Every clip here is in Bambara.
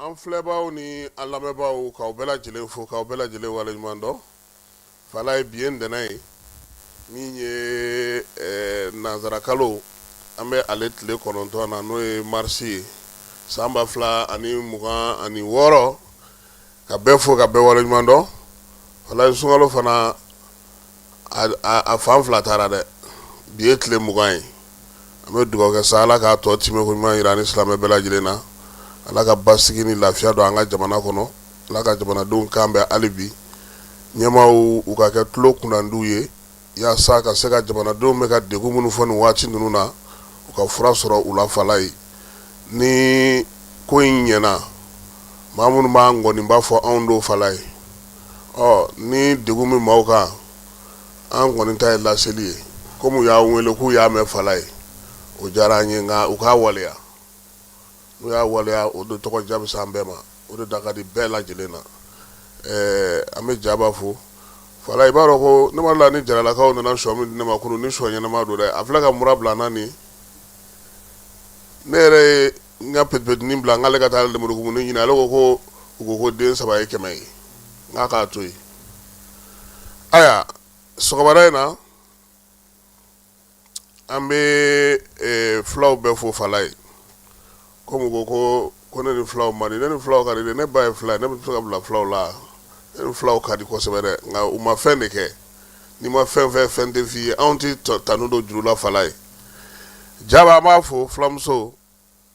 an filɛbaaw ni an lamɛnbaaw k'aw bɛɛ lajɛlen fo k'aw bɛɛ lajɛlen waleɲuman dɔn falaye bi ye ntɛnɛn ye min ye eh, nanzarakalo an bɛ ale tile kɔnɔntɔn na n'o ye marisi ye san ba fila ani mugan ani wɔɔrɔ ka bɛɛ fo ka bɛɛ waleɲuman dɔn falaye sunkalo fana a fan fila taara dɛ bi ye tile mugan ye an bɛ dugawu kɛ sa ala k'a tɔ timɛ ko ɲuman yira an ni silamɛ bɛɛ lajɛlen na ala ka basigi ni lafiya don an ka jamana kɔnɔ ala ka jamanadenw kan bɛn hali bi ɲɛmaaw u ka kɛ tulo kunnandiw ye yaasa ka se ka jamanadenw bɛ ka degun minnu fɔ nin waati ninnu na u ka fura sɔrɔ u la falaye ni ko in ɲɛna maa minnu b'a ŋɔni b'a fɔ anw don falaye ɔ ni degun min maaw kan an kɔni ta ye laseli ye kɔmi u y'a wele k'u y'a mɛn falaye o diyara an ye nka u k'a waleya n'u y'a waleya o de tɔgɔ diya bɛ se an bɛɛ ma o de da ka di bɛɛ lajɛlen na an bɛ jaba fo falaye i b'a dɔn ko ne m'a dɔn ni jaralakaw nana sɔ min di ne ma kunun ni sɔ ɲɛnama don dɛ a filɛ ka mura bila n na nin ne yɛrɛ ye n ka petipetinin bila n k'ale ka taa lemurukumuni ɲini ale ko ko u ko ko den saba ye kɛmɛ ye n k'a k'a to yen ayiwa sɔgɔmada in na an bɛ fulaw bɛɛ fo falaye komi ko ko ko ne ni fulaw man di ne ni fulaw ka di ne ba ye fula ye ne bɛ se ka bila fulaw la ne ni fulaw ka di kosɛbɛ dɛ nka u ma fɛn de kɛ n'i ma fɛn fɛn fɛn tɛ f'i ye anw tɛ tanu don juru la falaye jaba an b'a fo fulamuso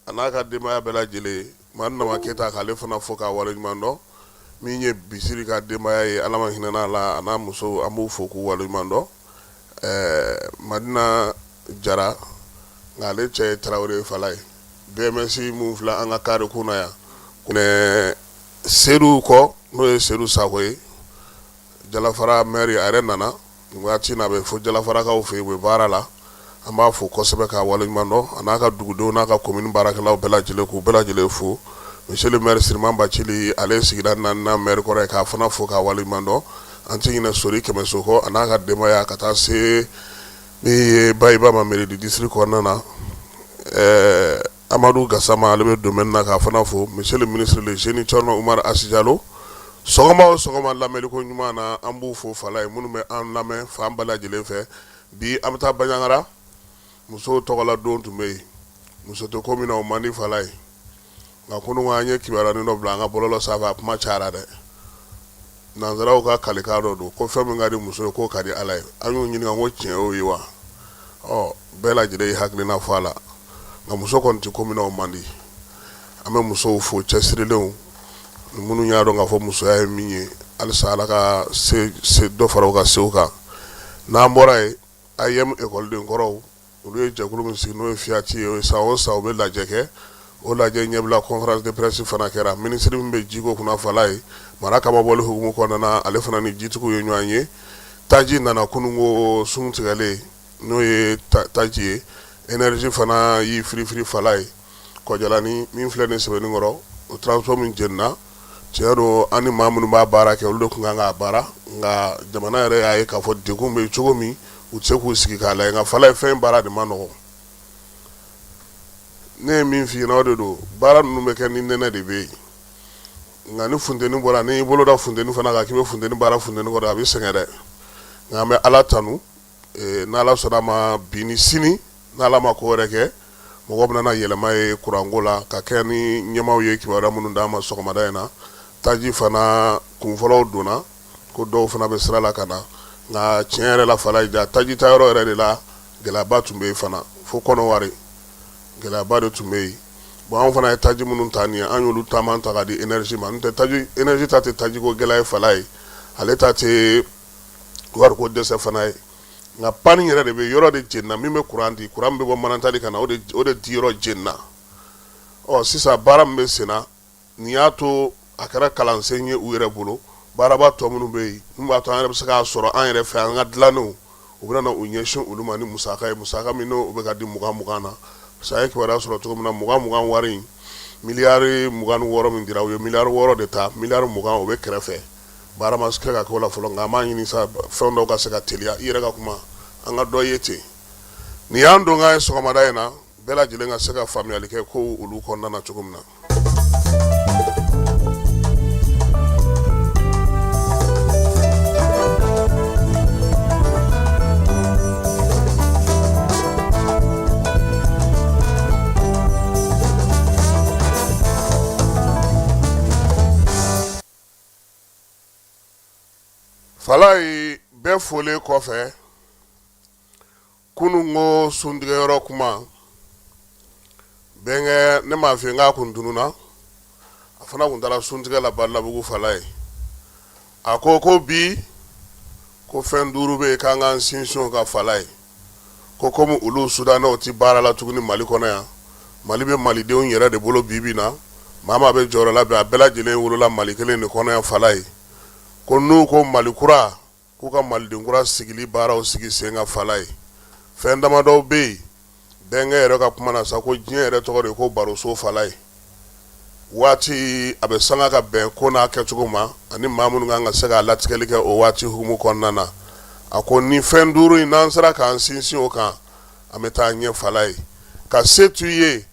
A n'a ka denbaya bɛɛ lajɛlen madu nama keyita k'ale fana fo k'a waleɲuman dɔn min ye bisiri ka denbaya ye ala ma hinɛna a la a n'a muso an b'u fo k'u waleɲuman dɔn madina jara nka ale cɛ ye tarawele ye falaye bms min filɛ an ka kare kunna yan seyidu kɔ n'o ye seyidu sakɔ ye jalafara maire a yɛrɛ nana Waati na a bɛ fo jalafarakaw fɛ yen u bɛ baara la an b'a fo kosɛbɛ k'a waleɲuman dɔn a n'a ka dugudenw n'a ka komini baarakɛlaw bɛɛ lajɛlen k'u bɛɛ lajɛlen fo monsieur le maire Siriman Bacili ale ye sigida naaninan maire kɔrɔ ye k'a fana fo k'a waleɲuman dɔn an tɛ ɲinɛ Sori Kɛmɛso kɔ a n'a ka denbaya ka taa se min ye Bayiba ma mairie du district kɔnɔna na ɛɛ amadu gasama ale bɛ domaine na k'a fana fo monsieur le ministre le génie thierno umaru asi jalo sɔgɔma o sɔgɔma lamɛnliko ɲuman na an b'u fo falaye minnu bɛ an lamɛn fan bɛɛ lajɛlen fɛ bi an bɛ taa baɲagara musow tɔgɔla don tun bɛ yen muso tɛ ko min na o man di falaye nka kunun an ye kibaruyanin dɔ bila an ka bɔlɔlɔ sanfɛ a kuma cayara dɛ nansaraw ka kalikan dɔ don ko fɛn min ka di muso ye k'o ka di ala ye an y'u ɲininka ko tiɲɛ o ye wa ɔ bɛɛ lajɛlen ye hakilina fɔ a la nka muso kɔni tɛ ko min na o man di an bɛ musow fo cɛsirilenw minnu y'a dɔn k'a fɔ musoya ye min ye halisa ala ka dɔ fara u ka sew kan n'an bɔra yen AIM ekɔlidenkɔrɔw olu ye jɛkulu min sigi n'o ye Fiyati ye san o san u bɛ lajɛ kɛ o lajɛ ɲɛbila conférence de presse fana kɛra minisiri min bɛ jiko kunna Falaye mara cɛmabɔli hukumu kɔnɔna na ale fana ni jitigiw ye ɲɔgɔn ye taji nana kununko sun tigɛlen n'o ye taji ye énergie fana y'i firifiri Falaye Kɔjalani min filɛ nin ye Sebeninkɔrɔ o transfo min jenina Tiɲɛ don an ni maa minnu b'a baara kɛ olu de tun kan k'a baara nka jamana yɛrɛ y'a ye k'a fɔ degun bɛ yen cogo min u tɛ se k'u sigi k'a lajɛ nka Falaye fɛn baara de man nɔgɔn ne ye min f'i ɲɛna o de don baara ninnu bɛ kɛ ni nɛnɛ de bɛ yen nka ni funteni bɔra n'i y'i bolo da funteni fana kan k'i bɛ funteni baara funteni kɔrɔ a bɛ sɛgɛn dɛ nka an bɛ Ala tanu Ee n' ala sɔnna a ma bi ni sini n' ala ma ko wɛrɛ kɛ mɔgɔ bɛna na yɛlɛma ye kuranko la ka kɛ ni ɲɛmaaw ye kibaruya minnu d'an ma sɔgɔmada in na taji fana kunfɔlɔw donna ko dɔw fana bɛ sira la ka na nka tiɲɛ yɛrɛ la Falaye taji ta yɔrɔ yɛrɛ de la gɛlɛyaba tun bɛ yen fana fo Kɔnɔwari gɛlɛyaba de tun bɛ yen bon anw fana ye taji minnu ta nin ye an y'olu caman ta ka di énergie ma n'o tɛ énergie ta tɛ tajiko gɛlɛya ye Falaye ale ta wariko dɛsɛ fana ye nka pani yɛrɛ de bɛ yɔrɔ de jenina min bɛ kuran di kuran bɛ bɔ Manantali ka na o de di yɔrɔ jenina ɔ sisan baara min bɛ senna nin y'a to a kɛra kalansen ye u yɛrɛ bolo baaraba tɔ minnu bɛ yen min b'a to an yɛrɛ bɛ se k'a sɔrɔ an yɛrɛ fɛ an ka dilannenw u bɛna u ɲɛsin olu ma ni musaka ye musaka min n'o bɛ ka di mugan mugan na parce que a ye kibaruya sɔrɔ cogo min na mugan mugan wari in miliyari mugan wɔɔrɔ min dira u ye miliyari wɔɔrɔ de ta miliyari mugan o bɛ kɛrɛfɛ Baara ma kɛ ka k'o la fɔlɔ nka an b'a ɲini sa fɛn dɔw ka se ka teliya i yɛrɛ ka kuma an ka dɔ ye ten nin y'an donkan ye sɔgɔmada in na bɛɛ lajɛlen ka se ka faamuyali kɛ ko olu kɔnɔna na cogo min na Falaye bɛɛ folen kɔfɛ kunun ko suntigɛ yɔrɔ kuma bɛnkɛ ne m maa fɛ n'a kun dunun na a fana tun taara suntigɛ la Badalabugu Falaye a ko ko bi ko fɛn duuru bɛ yen k'an k'an sinsin o kan Falaye ko kɔmi olu sudanɛw tɛ baara la tuguni mali kɔnɔ yan mali bɛ malidenw yɛrɛ de bolo bi bi in na maa maa bɛ jɔyɔrɔ la bi a bɛɛ lajɛlen wolola mali kelen de kɔnɔ yan falayi ko n'u ko mali kura k'u ka maliden kura sigili baaraw sigi sen kan falayi fɛn damadɔw bɛ yen bɛnkɛ yɛrɛ ka kuma na sa ko diɲɛ yɛrɛ tɔgɔ de ko baroso falayi waati a bɛ sanga ka bɛn ko n'a kɛcogo ma ani maa minnu kan ka se k'a latigɛli kɛ o waati hukumu kɔnɔna na a ko ni fɛn duuru in n'an sera k'an sinsin o kan an bɛ taa ɲɛ falayi ka se to i ye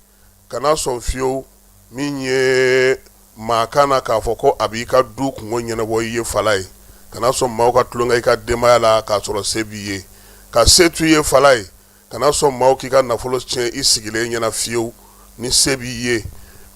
kana sɔn fiyewu min ye maa kana na k'a fɔ ko a b'i ka du kungo ɲɛnabɔ i ye falayi kana sɔn maaw ka tulonkɛ i ka denbaya la k'a sɔrɔ se b'i ye ka se to i ye falayi kana sɔn maaw k'i ka nafolo tiɲɛ i sigilen ɲɛna fiyewu ni se b'i ye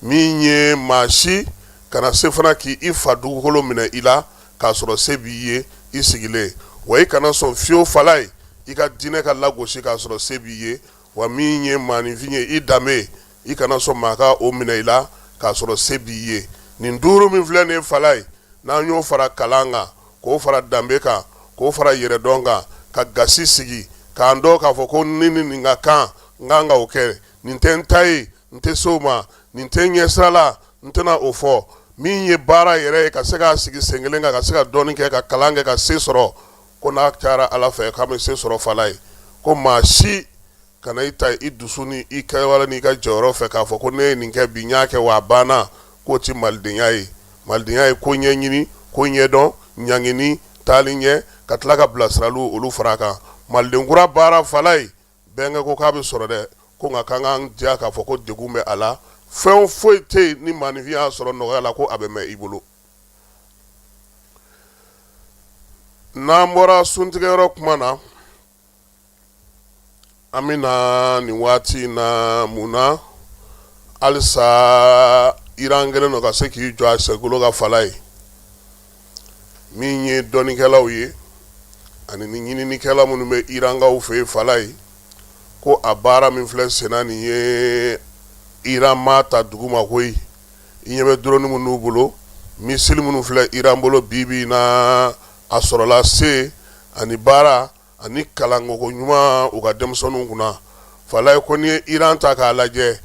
min ye maa si kana se fana k'i fa dugukolo minɛ i la k'a sɔrɔ se b'i ye i sigilen wa i kana sɔn fiyewu falayi i ka diinɛ ka lagosi k'a sɔrɔ se b'i ye wa min ye maaninfin ye i danbe i kana sɔn maa ka o minɛ i la k'a sɔrɔ se b'i ye nin duuru min filɛ nin ye falayi n'an y'o fara kalan kan k'o fara danbe kan k'o fara yɛrɛdɔn kan ka gasi sigi k'an dɔn k'a fɔ ko ni ni nin ka kan n kan ka o kɛ nin tɛ n ta ye n tɛ se o ma nin tɛ n ɲɛ sira la n tɛna o fɔ min ye baara yɛrɛ ye ka se k'a sigi sen kelen kan ka se ka dɔnni kɛ ka kalan kɛ ka se sɔrɔ ko n'a cayara ala fɛ k'a bɛ se sɔrɔ falayi ko maa si kana i ta i dusu ni i kɛwale n'i ka jɔyɔrɔ fɛ k'a fɔ ko ne ye nin kɛ bi n y'a kɛ wa a banna k'o tɛ malidenya ye malidenya ye ko ɲɛɲini ko ɲɛdɔn ɲangini taali ɲɛ ka tila ka bilasiraliw olu fara kan maliden kura baara falayi bɛnkɛ ko k'a bɛ sɔrɔ dɛ ko nka k'an k'an jija k'a fɔ ko degun bɛ a la fɛn foyi tɛ yen ni maaninfin y'a sɔrɔ nɔgɔya la ko a bɛ mɛn i bolo n'an bɔra suntigɛyɔrɔ tuma na an bɛ na nin waati in na mun na halisa Iran kɛlen don ka se k'i jɔ a senkolo kan falayi min ye dɔnnikɛlaw ye ani ni ɲininikɛla minnu bɛ Irankaw fɛ yen falayi ko a baara min filɛ senna nin ye Iran m'a ta duguma koyi i ɲɛ bɛ drone minnu n'u bolo missile minnu filɛ Iran bolo bi bi in na a sɔrɔla se ani baara ani kalancogo ɲuman u ka denmisɛnninw kunna falayi ko n'i ye iran ta k'a lajɛ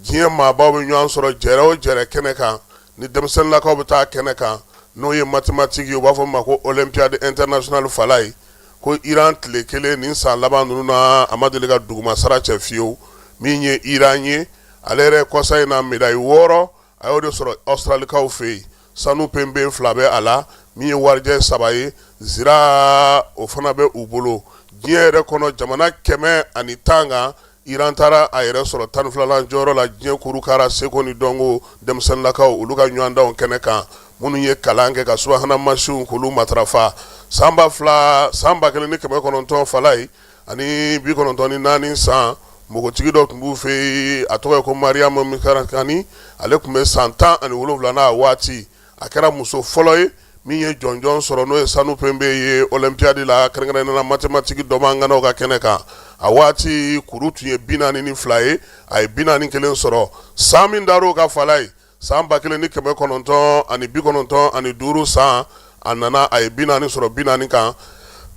diɲɛ maabaw bɛ ɲɔgɔn sɔrɔ jɛrɛ o jɛrɛ kɛnɛ kan ni denmisɛnninlakaw bɛ taa kɛnɛ kan n'o ye matematiki ye u b'a fɔ min ma ko olympiade internationale falayi ko iran tile kelen nin san laban ninnu na a ma deli ka dugumasara cɛ fiyewu min ye iran ye ale yɛrɛ kɔsa in na medayi wɔɔrɔ a y'o de sɔrɔ ɔsitaralikaw fɛ yen sanu penpe fila bɛ a la min ye warijɛ saba ye zira o fana bɛ u bolo diɲɛ yɛrɛ kɔnɔ jamana kɛmɛ ani tan kan iran taara a yɛrɛ sɔrɔ tan ni filanan jɔyɔrɔ la diɲɛ kurukara seko ni dɔnko denmisɛnninlakaw olu ka ɲɔgɔndanw kɛnɛ kan minnu ye kalan kɛ ka subahana masinw k'olu matarafa san ba fila san ba kelen ni kɛmɛ kɔnɔntɔn falayi ani bi kɔnɔntɔn ni naani san npogotigi dɔ tun b'u fɛ yen a tɔgɔ ye ko mariyamu mikarakani ale tun bɛ san tan ani wolonwula n'a waati a kɛra muso fɔlɔ ye min ye jɔnjɔn sɔrɔ n'o ye sanu penpe ye olɛnpiyadi la kɛrɛnkɛrɛnnenya la matematiki dɔma ŋanaw ka kɛnɛ kan a waati kuru tun ye bi naani ni fila ye a ye bi naani kelen sɔrɔ san min dar'o kan falayi san ba kelen ni kɛmɛ kɔnɔntɔn ani bi kɔnɔntɔn ani duuru san a nana a ye bi naani sɔrɔ bi naani kan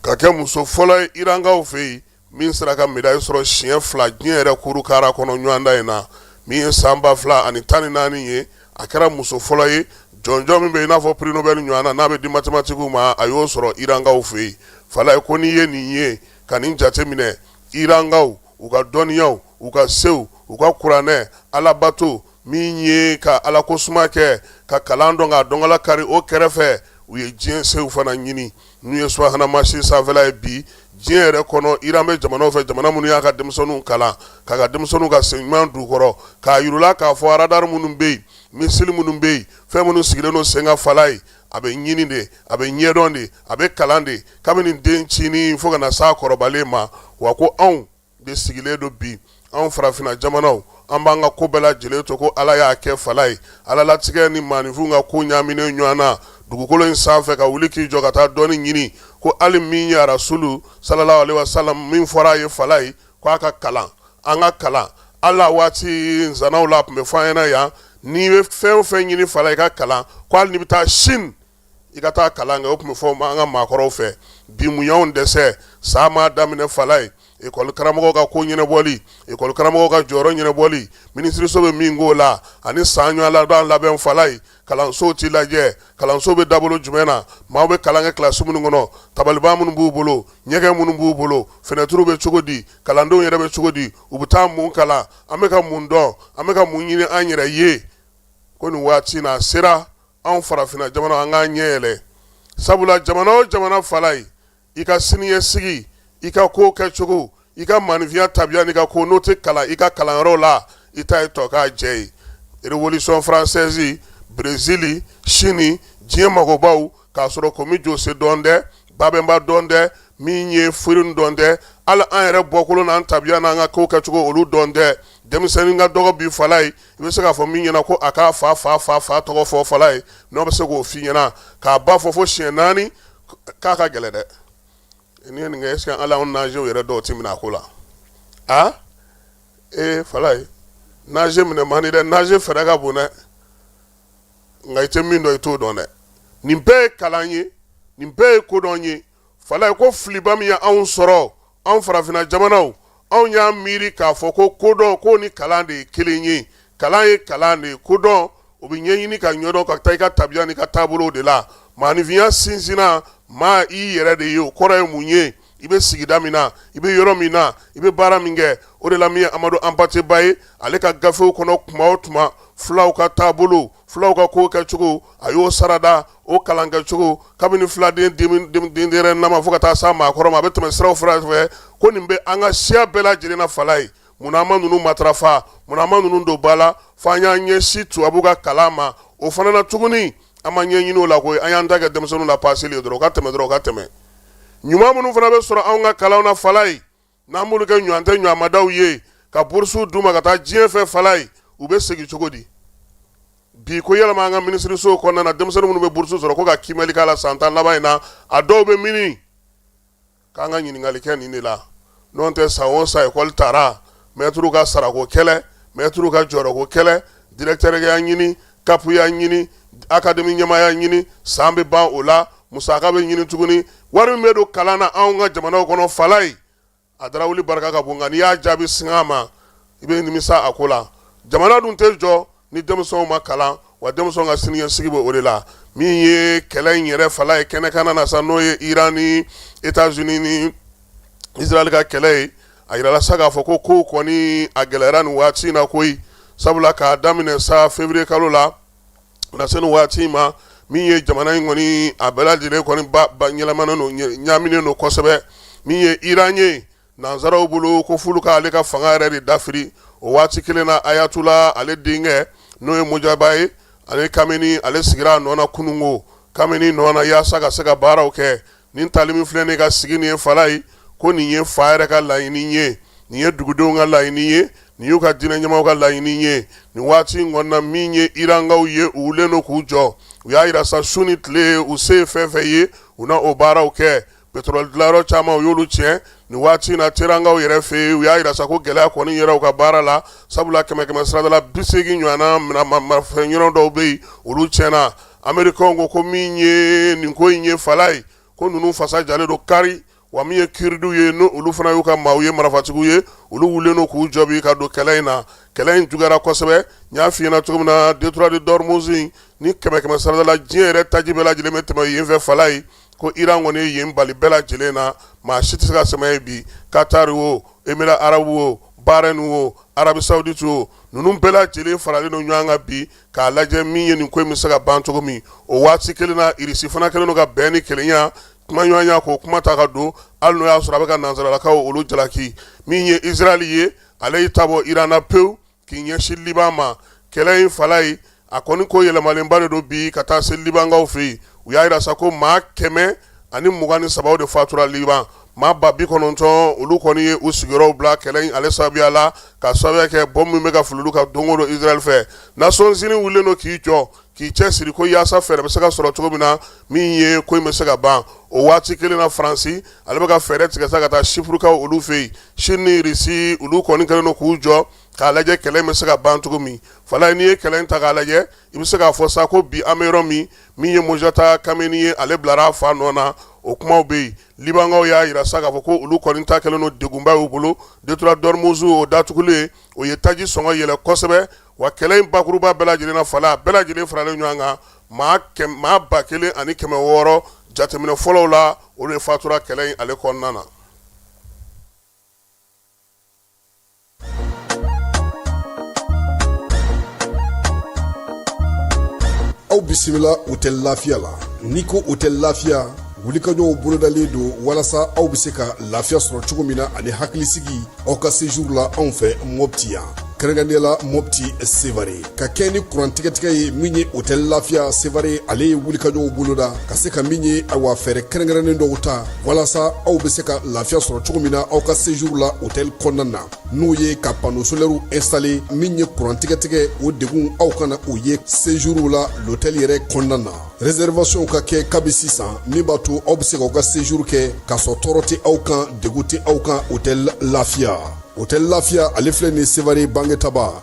ka kɛ muso fɔlɔ ye irankaw fɛ yen min sera ka médaille sɔrɔ siɲɛ fila diɲɛ yɛrɛ kurukara kɔnɔ ɲɔgɔndan in na min ye san ba fila ani tan ni naani ye a kɛra muso fɔlɔ ye jɔnjɔn min bɛ i n'a fɔ prix Nobel ɲɔgɔn na n'a bɛ di matematikiw ma a y'o sɔrɔ irankaw fɛ yen falayi ko n'i ye nin ye ka nin jate minɛ irankaw u ka dɔnniyaw u ka sew u ka kuranɛ alabato min ye ka ala ko suma kɛ ka kalan dɔn ka dɔnkala kari o kɛrɛfɛ u ye diɲɛ sew fana ɲini n'u ye subahana masin sanfɛla ye bi diɲɛ yɛrɛ kɔnɔ iran bɛ jamanaw fɛ jamana minnu y'a ka denmisɛnninw kalan k'a ka denmisɛnninw ka sen ɲuman d'u kɔrɔ k'a yir'u la k'a fɔ aradari minnu bɛ yen misili minnu bɛ yen fɛn minnu sigilen don sen kan falayi a bɛ ɲini de a bɛ ɲɛdɔn de a bɛ kalan de kabini dencinin fo ka na s'a kɔrɔbalen ma wa ko anw de sigilen don bi anw farafinna jamanaw an b'an ka ko bɛɛ lajɛlen to ko ala y'a kɛ falayi ala latigɛ ni maaninfinw ka ko ɲaaminen ɲɔgɔn na dugukolo in sanfɛ ka wuli k'i jɔ ka taa dɔnni ɲini ko hali min ye arasulu salalahu alehi wasalamu min fɔra a ye falayi ko a ka kalan an ka kalan ala waati nsanaw la tun bɛ fɔ an ɲɛna yan n'i bɛ fɛn o fɛn ɲini falayi i ka kalan ko hali n'i bɛ taa sini i ka taa kalan kɛ o tun bɛ fɔ an ka maakɔrɔw fɛ bi mun y'an dɛsɛ san ma daminɛ falayi ekɔli karamɔgɔ ka ko ɲɛnabɔli ekɔli karamɔgɔ ka jɔyɔrɔ ɲɛnabɔli minisiriso bɛ min k'o la ani san ɲɔgɔn labɛn falayi kalansow tɛ lajɛ kalanso bɛ dabolo jumɛn na maaw bɛ kalan kɛ kilasi minnu kɔnɔ tabaliban minnu b'u bolo ɲɛgɛn minnu b'u bolo finɛtiriw bɛ cogo di kalandenw yɛrɛ bɛ cogo di u bɛ taa mun kalan an bɛ ka mun dɔn an bɛ ka mun ɲini an yɛrɛ ye ko nin waati na sera anw farafinna jamana an k'an ɲɛ yɛlɛ sabula jamana o jamana falayi i ka siniɲɛsigi i ka ko kɛcogo i ka maaninfinya tabiya n'i ka ko n'o tɛ kalan i ka kalanyɔrɔ la i ta ye tɔ k'a jɛ ye révolution française Brésil Chine diɲɛ mɔgɔbaw k'a sɔrɔ komi jɔsɛ dɔn tɛ babɛnba dɔn tɛ min ye firun dɔn tɛ hali an yɛrɛ bɔkolo n'an tabiya n'an ka ko kɛcogo olu dɔn tɛ denmisɛnnin ka dɔgɔ bi falayi i bɛ se k'a fɔ min ɲɛna ko a k'a fa fa fa fa tɔgɔ fɔ Falayi n'o bɛ se k'o f'i ɲɛna k'a ba fɔ fo siɲɛ naani k'a ka gɛlɛn dɛ n'i ye nin kɛ ɛseke ala nazew yɛrɛ dɔw ti mina a ko la a ee Falayi naze minɛ man di dɛ naze fɛɛrɛ ka bon dɛ nka i tɛ min dɔn i t'o dɔn dɛ nin bɛɛ ye kalan ye nin bɛɛ ye kodɔn ye Falayi ko filiba min ye anw sɔrɔ anw farafinna jamanaw anw y'a miiri k'a fɔ ko kodɔn ko ni kalan de ye kelen ye kalan ye kalan de ye kodɔn o bɛ ɲɛɲini ka ɲɔdɔn ka taa i ka tabiya n'i ka taabolow de la maaninfinya sinsinna maa i yɛrɛ de ye o kɔrɔ ye mun ye i bɛ sigida min na i bɛ yɔrɔ min na i bɛ baara min kɛ o de la min ye Amadu Anpate Ba ye ale ka gafew kɔnɔ tuma o tuma fulaw ka taabolo fulaw ka ko kɛcogo a y'o sarada o kalan kɛcogo kabini filaden dennama fo ka taa s'a maakɔrɔma a bɛ tɛmɛ siraw fɛ ko nin bɛ an ka siya bɛɛ lajɛlen na Falayi munna an ma ninnu matarafa munna an ma ninnu don ba la fo an y'an ɲɛsin tubabu ka kalan ma o fana na tuguni an ma ɲɛɲini o la koyi an y'an ta kɛ denmisɛnninw lapaseli ye dɔrɔn ka tɛmɛ ɲuman minnu fana bɛ sɔrɔ an ka kalan na Falayi N'an b'olu kɛ ɲɔɔn tɛ ɲɔɔn madaw ye ka bourses d'u ma ka taa diɲɛ fɛ Falayi u bɛ segin cogo di bi ko yɛlɛma an ka minisirisow kɔnɔna na denmisɛnnin minnu bɛ bourses sɔrɔ ko ka kiimɛli k'a la san tan laban in na a dɔw bɛ mini k'an ka ɲininkali kɛ nin de la n'o tɛ san o san école taara maitres ka sarako kɛlɛ maitres ka jɔyɔrɔko kɛlɛ directeurya ɲini kapuya ɲini akademi ɲɛmaaya ɲini san bɛ ban o la musaka bɛ ɲini tuguni wari min bɛ don kalan na anw ka jamanaw kɔnɔ Falayi a dara wuli barika ka bon nka n'i y'a jaabi sang'a ma i bɛ nimisa a ko la jamana dun tɛ jɔ ni denmisɛnw ma kalan wa denmisɛn ka siniɲɛsigi bɛ o de la min ye kɛlɛ in yɛrɛ Falayi kɛnɛkanna na sa n'o ye iran ni États-Unis ni Israɛl ka kɛlɛ ye a jirala sa k'a fɔ ko kow kɔni a gɛlɛyara nin waati in na koyi sabula k'a daminɛ sa février kalo la ka na se nin waati in ma min ye jamana in kɔni a bɛɛ lajɛlen kɔni ba ba ɲɛnamana don ɲaaminen don kosɛbɛ min ye Iran ye nansaraw bolo ko f'olu ka ale ka fanga yɛrɛ de dafiri o waati kelen na Ayatula ale denkɛ n'o ye Mojaba ye ale Kameni ale sigira a nɔ na kununko Kameni nɔ na yaasa ka se ka baaraw kɛ nin tali min filɛ nin k'a sigi nin ye Falayi ko nin ye fa yɛrɛ ka laɲini ye nin ye dugudenw ka laɲini ye nin y'u ka diinɛ ɲɛmɔgɔw ka laɲini ye nin waati in kɔnɔna min ye irankaw ye u wulilen don k'u jɔ u y'a jira sa su ni tile u se ye fɛn fɛn ye u na o baaraw kɛ pétrole dilanyɔrɔ caman u y'olu tiɲɛ nin waati in na terankaw yɛrɛ fɛ yen u y'a jira sa ko gɛlɛya kɔni yera u ka baara la sabula kɛmɛ kɛmɛ sirada la bi seegin ɲɔgɔnna maramafɛn yɔrɔ dɔw bɛ yen olu tiɲɛna amerikɛnw ko min ye nin ko in ye fala ye ko ninnu fasa jalen don kari wa min ye kurduw ye n' olu fana y'u ka maaw ye marafatigiw ye olu wulilen don k'u jɔ bi ka don kɛlɛ in na kɛlɛ in juguyara kosɛbɛ n y'a f'i ɲɛna cogo min na détroit d'ormuz in ni kɛmɛ kɛmɛ sarada la diɲɛ yɛrɛ taji bɛɛ lajɛlen bɛ tɛmɛ yen fɛ fala ye ko iran kɔni ye yen bali bɛɛ lajɛlen na maa si tɛ se ka tɛmɛ yen bi katari wo émirats arabes wo bahreïn wo arabie saoudite wo ninnu bɛɛ lajɛlen faralen don ɲɔgɔn kan bi k'a lajɛ min ye nin ko in bɛ se ka ban cogo min o waati kelen na irisi fana kɛlen don ka bɛn ni kelenya kumaɲɔgɔnya k'o kuma ta ka don hali n'o y'a sɔrɔ a bɛ ka nansaralakaw olu jalaki min ye israël ye ale y'i ta bɔ iran na pewu k'i ɲɛsin liban ma kɛlɛ in fala ye a kɔni ko yɛlɛmalenba de don bi ka taa se libankaw fɛ yen u y'a jira sa ko maa kɛmɛ ani mugan ni saba de fatura liban maa ba bi kɔnɔntɔn olu kɔni ye u sigiyɔrɔw bila kɛlɛ ale sababuya la ka sababuya kɛ bɔmu min bɛ ka fili olu kan don o don israël fɛ nations unies wulilen don k'i jɔ k'i cɛ siri ko walasa fɛɛrɛ bɛ se ka sɔrɔ cogo min na min ye ko in bɛ se ka ban o waati kelen na faransi ale bɛ ka fɛɛrɛ tigɛ sa ka taa sipurukaw olu fɛ yen sini ni irisi olu kɔni kɛlen don k'u jɔ k'a lajɛ kɛlɛ in bɛ se ka ban cogo min fala n'i ye kɛlɛ in ta k'a lajɛ i bɛ se k'a fɔ sa ko bi an bɛ yɔrɔ min min ye mojtaba khamenei ye ale bilara a fa nɔ na o kumaw bɛ yen libankaw y'a jira sa k'a fɔ ko olu kɔni ta kɛlen don degunba y'u bolo détroit d'ormuz o datugulen o ye taji sɔngɔ yɛlɛ kosɛbɛ wa kɛlɛ in bakuruba bɛɛ lajɛlen na fala a bɛɛ lajɛlen faralen ɲɔgɔn kan maa ba kelen ani kɛmɛ wɔɔrɔ jateminɛ fɔlɔw la olu de fatura kɛlɛ in ale kɔnɔna na aw bisimila hôtel lafiya la n'i ko hôtel lafiya wulikajɔw bolodalen don walasa aw bɛ se ka lafiya sɔrɔ cogo min na ani hakilisigi aw ka séjour la anw fɛ mɔpti yan kɛrɛnkɛrɛnnenya la mɔpti sevare ka kɛɲɛ ni kurantigɛtigɛ ye min ye hôtel lafiya sevare ale ye wulikajɔw boloda ka se ka min ye awa fɛɛrɛ kɛrɛnkɛrɛnnen dɔw ta walasa aw bɛ se ka lafiya sɔrɔ cogo min na aw ka séjour la hôtel kɔnɔna na n'o ye ka panneaux solaires installer min ye kurantigɛtigɛ o degun aw kana o ye séjourw la l'hôtel yɛrɛ kɔnɔna na réservationw ka kɛ kabi sisan min b'a to aw bɛ se k'aw ka séjour kɛ k'a sɔrɔ tɔɔrɔ tɛ aw kan degun tɛ aw kan hôtel lafiya hôtel lafiya ale filɛ nin sevare bangetaba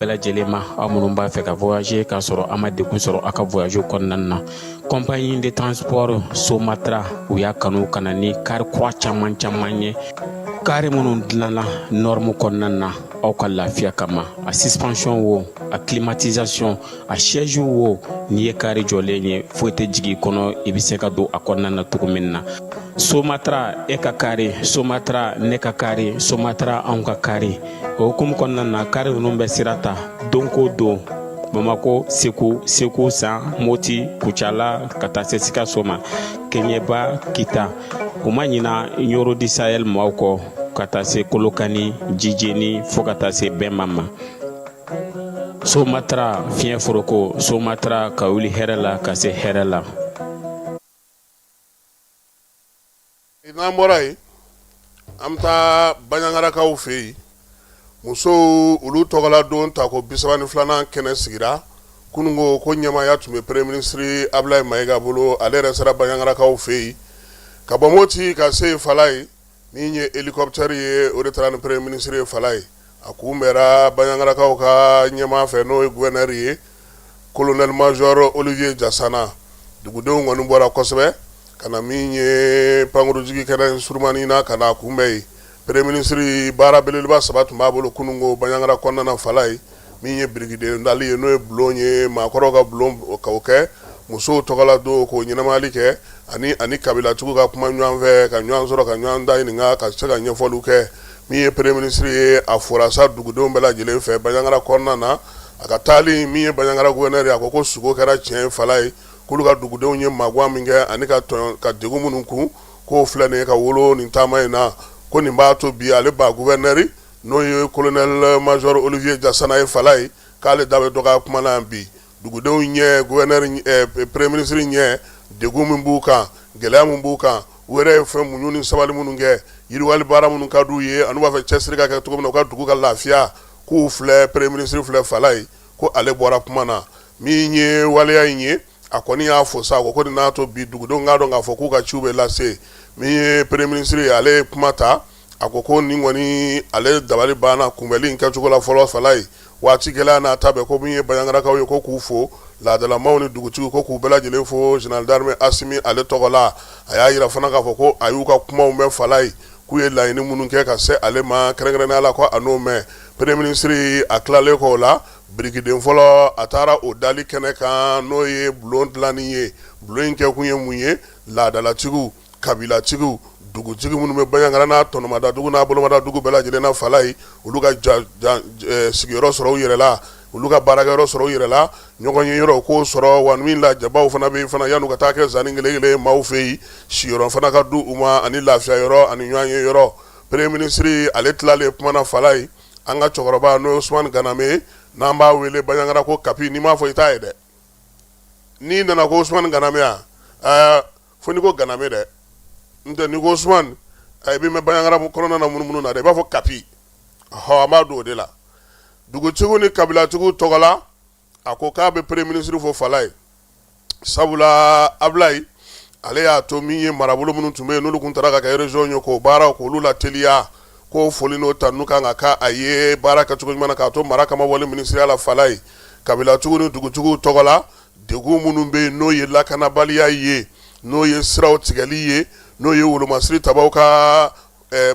bɛɛ lajɛlen ma aw minnu b'a fɛ ka voyager k'a sɔrɔ a ma degun sɔrɔ a ka voyage kɔnɔna na compagnie de transport somatra u y'a kanu ka na ni kari kura caman caman ye kari minnu dilanna norme kɔnɔna na aw ka lafiya kama a suspension wo a climatisation a siège wo n'i ye kari jɔlen ye foyi tɛ jigin kɔnɔ i bɛ se ka don a kɔnɔna na cogo min na somatra e ka kari somatra ne ka kari somatra anw ka kari o hukumu kɔnɔna na kari ninnu bɛ sira ta don ko don bamakɔ segu segu san moti kucala ka taa se sikaso ma keɲeba kita u ma ɲina ɲɔrɔ du sahel maaw kɔ ka taa se kolokani jijeni fo ka taa se bɛma ma somatara fiɲɛ foroko somatara ka wuli hɛrɛ la ka se hɛrɛ la N'an bɔra yen an bɛ taa baɲangarakaw fɛ yen musow olu tɔgɔla don ta ko bi saba ni filanan kɛnɛ sigira kunungo ko ɲɛmaaya tun bɛ premier ministre abulayi mayiga bolo ale yɛrɛ sera baɲangarakaw fɛ yen ka bɔ moti ka se yen falayi min ye hélicoptère ye o de taara ni premier ministre ye a kunbɛra baɲangarakaw ka ɲɛmaa fɛ n'o ye gouverneur ye colonel major olivier jasana dugudenw kɔni bɔra kosɛbɛ ka na min ye pankurunjigi kɛnɛ surunmani na ka na a kunbɛn yen premier ministre baara belebeleba saba tun b'a bolo kunungo baɲangara kɔnɔna falayi min ye birikiden dali ye n'o ye bulon ye maakɔrɔw ka bulon ka kɛ musow tɔgɔla don k'o ɲɛnamayali kɛ ani ani kabilatigiw ka kuma ɲɔgɔn fɛ ka ɲɔgɔn sɔrɔ ka ɲɔgɔn da ɲininka ka se ka ɲɛfɔliw kɛ Min ye premier ministre ye a fora sa dugudenw bɛɛ lajɛlen fɛ bajangara kɔnɔna na a ka taali min ye bajangara gouverneur a ko ko sugo kɛra tiɲɛ ye falayi k'olu ka dugudenw ye magan min kɛ ani ka degun minnu kun k'o filɛ nin ye ka wolo nin taama in na ko nin b'a to bi ale ba gouverneur n'o ye colonel major olivier jasana ye falayi k'ale da bɛ dɔgɔ kuma na yan bi dugudenw ɲɛ gouverneur premier ministre ɲɛ degun min b'u kan gɛlɛya min b'u kan u yɛrɛ ye fɛn muɲu ni sabali minnu kɛ yiriwali baara minnu ka di u ye ani u b'a fɛ cɛsiri ka kɛ cogo min na u ka dugu ka lafiya k'u filɛ premier ministre filɛ falayi ko ale bɔra kuma na min ye waleya in ye a kɔni y'a fo sa a ko ko nin n'a to bi dugudenw k'a dɔn k'a fɔ k'u ka ciw bɛ lase min ye premier ministre ale ye kuma ta a ko ko nin kɔni ale dabali banna kunbɛli in kɛcogo la fɔlɔ falayi waati gɛlɛya n'a ta bɛɛ ko min ye baɲangarakaw ye ko k'u fo laadalamaw ni dugutigi ko k'u bɛɛ lajɛlen fo général d'armée asimi ale tɔgɔ la a y'a jira fana k'a fɔ ko a y'u ka kumaw mɛn falayi k'u ye laɲini minnu kɛ ka se ale ma kɛrɛnkɛrɛnnenya la ko a n'o mɛn premier ministre a tilalen kɔ o la birikiden fɔlɔ a taara o dali kɛnɛ kan n'o ye bulon dilanni ye bulon in kɛkun ye mun ye laadalatigiw kabilatigiw dugutigi minnu bɛ baɲangara n'a tɔnɔmadadugu n'a bolomadadugu bɛɛ lajɛlen na falayi olu ka sigiyɔrɔ sɔrɔ u yɛrɛ la olu ka baarakɛyɔrɔ sɔrɔ u yɛrɛ la ɲɔgɔn ye yɔrɔ u k'o sɔrɔ wa min lajɛbaw fana bɛ fana yan'u ka taa kɛ zan kelenkelen maaw fɛ yen siyɔrɔ fana ka di u ma ani lafiya yɔrɔ ani ɲɔgɔn ye yɔrɔ premier ministre ale tilalen kuma na falayi an ka cɛkɔrɔba n'o ye usumani ganame n'an b'a wele baɲangara ko kapi n'i m'a fɔ i t'a ye dɛ n'i nana ko usumani ganame ɛɛ fo n'i ko ganame dɛ n tɛ n'i ko usumani i bɛ mɛn baɲagara kɔnɔna na munumunu na dɛ i b'a fɔ kapi hɔ an b'a don o de la dugutigiw ni kabilatigiw tɔgɔ la a ko k'a bɛ premier ministre fo falaye sabula abilayi ale y'a to min ye marabolo minnu tun bɛ yen n'olu tun taara ka kɛ région ye k'o baaraw k'olu lateliya k'o foli n'o tanu kan ka k'a ye baara kɛcogo ɲuman na k'a to mara kama wale minisiriya la falaye kabilatigiw ni dugutigiw tɔgɔ la Degun minnu bɛ yen n'o ye lakanabaliya ye n'o ye siraw tigɛli ye n'o ye wolomasiri tabaw ka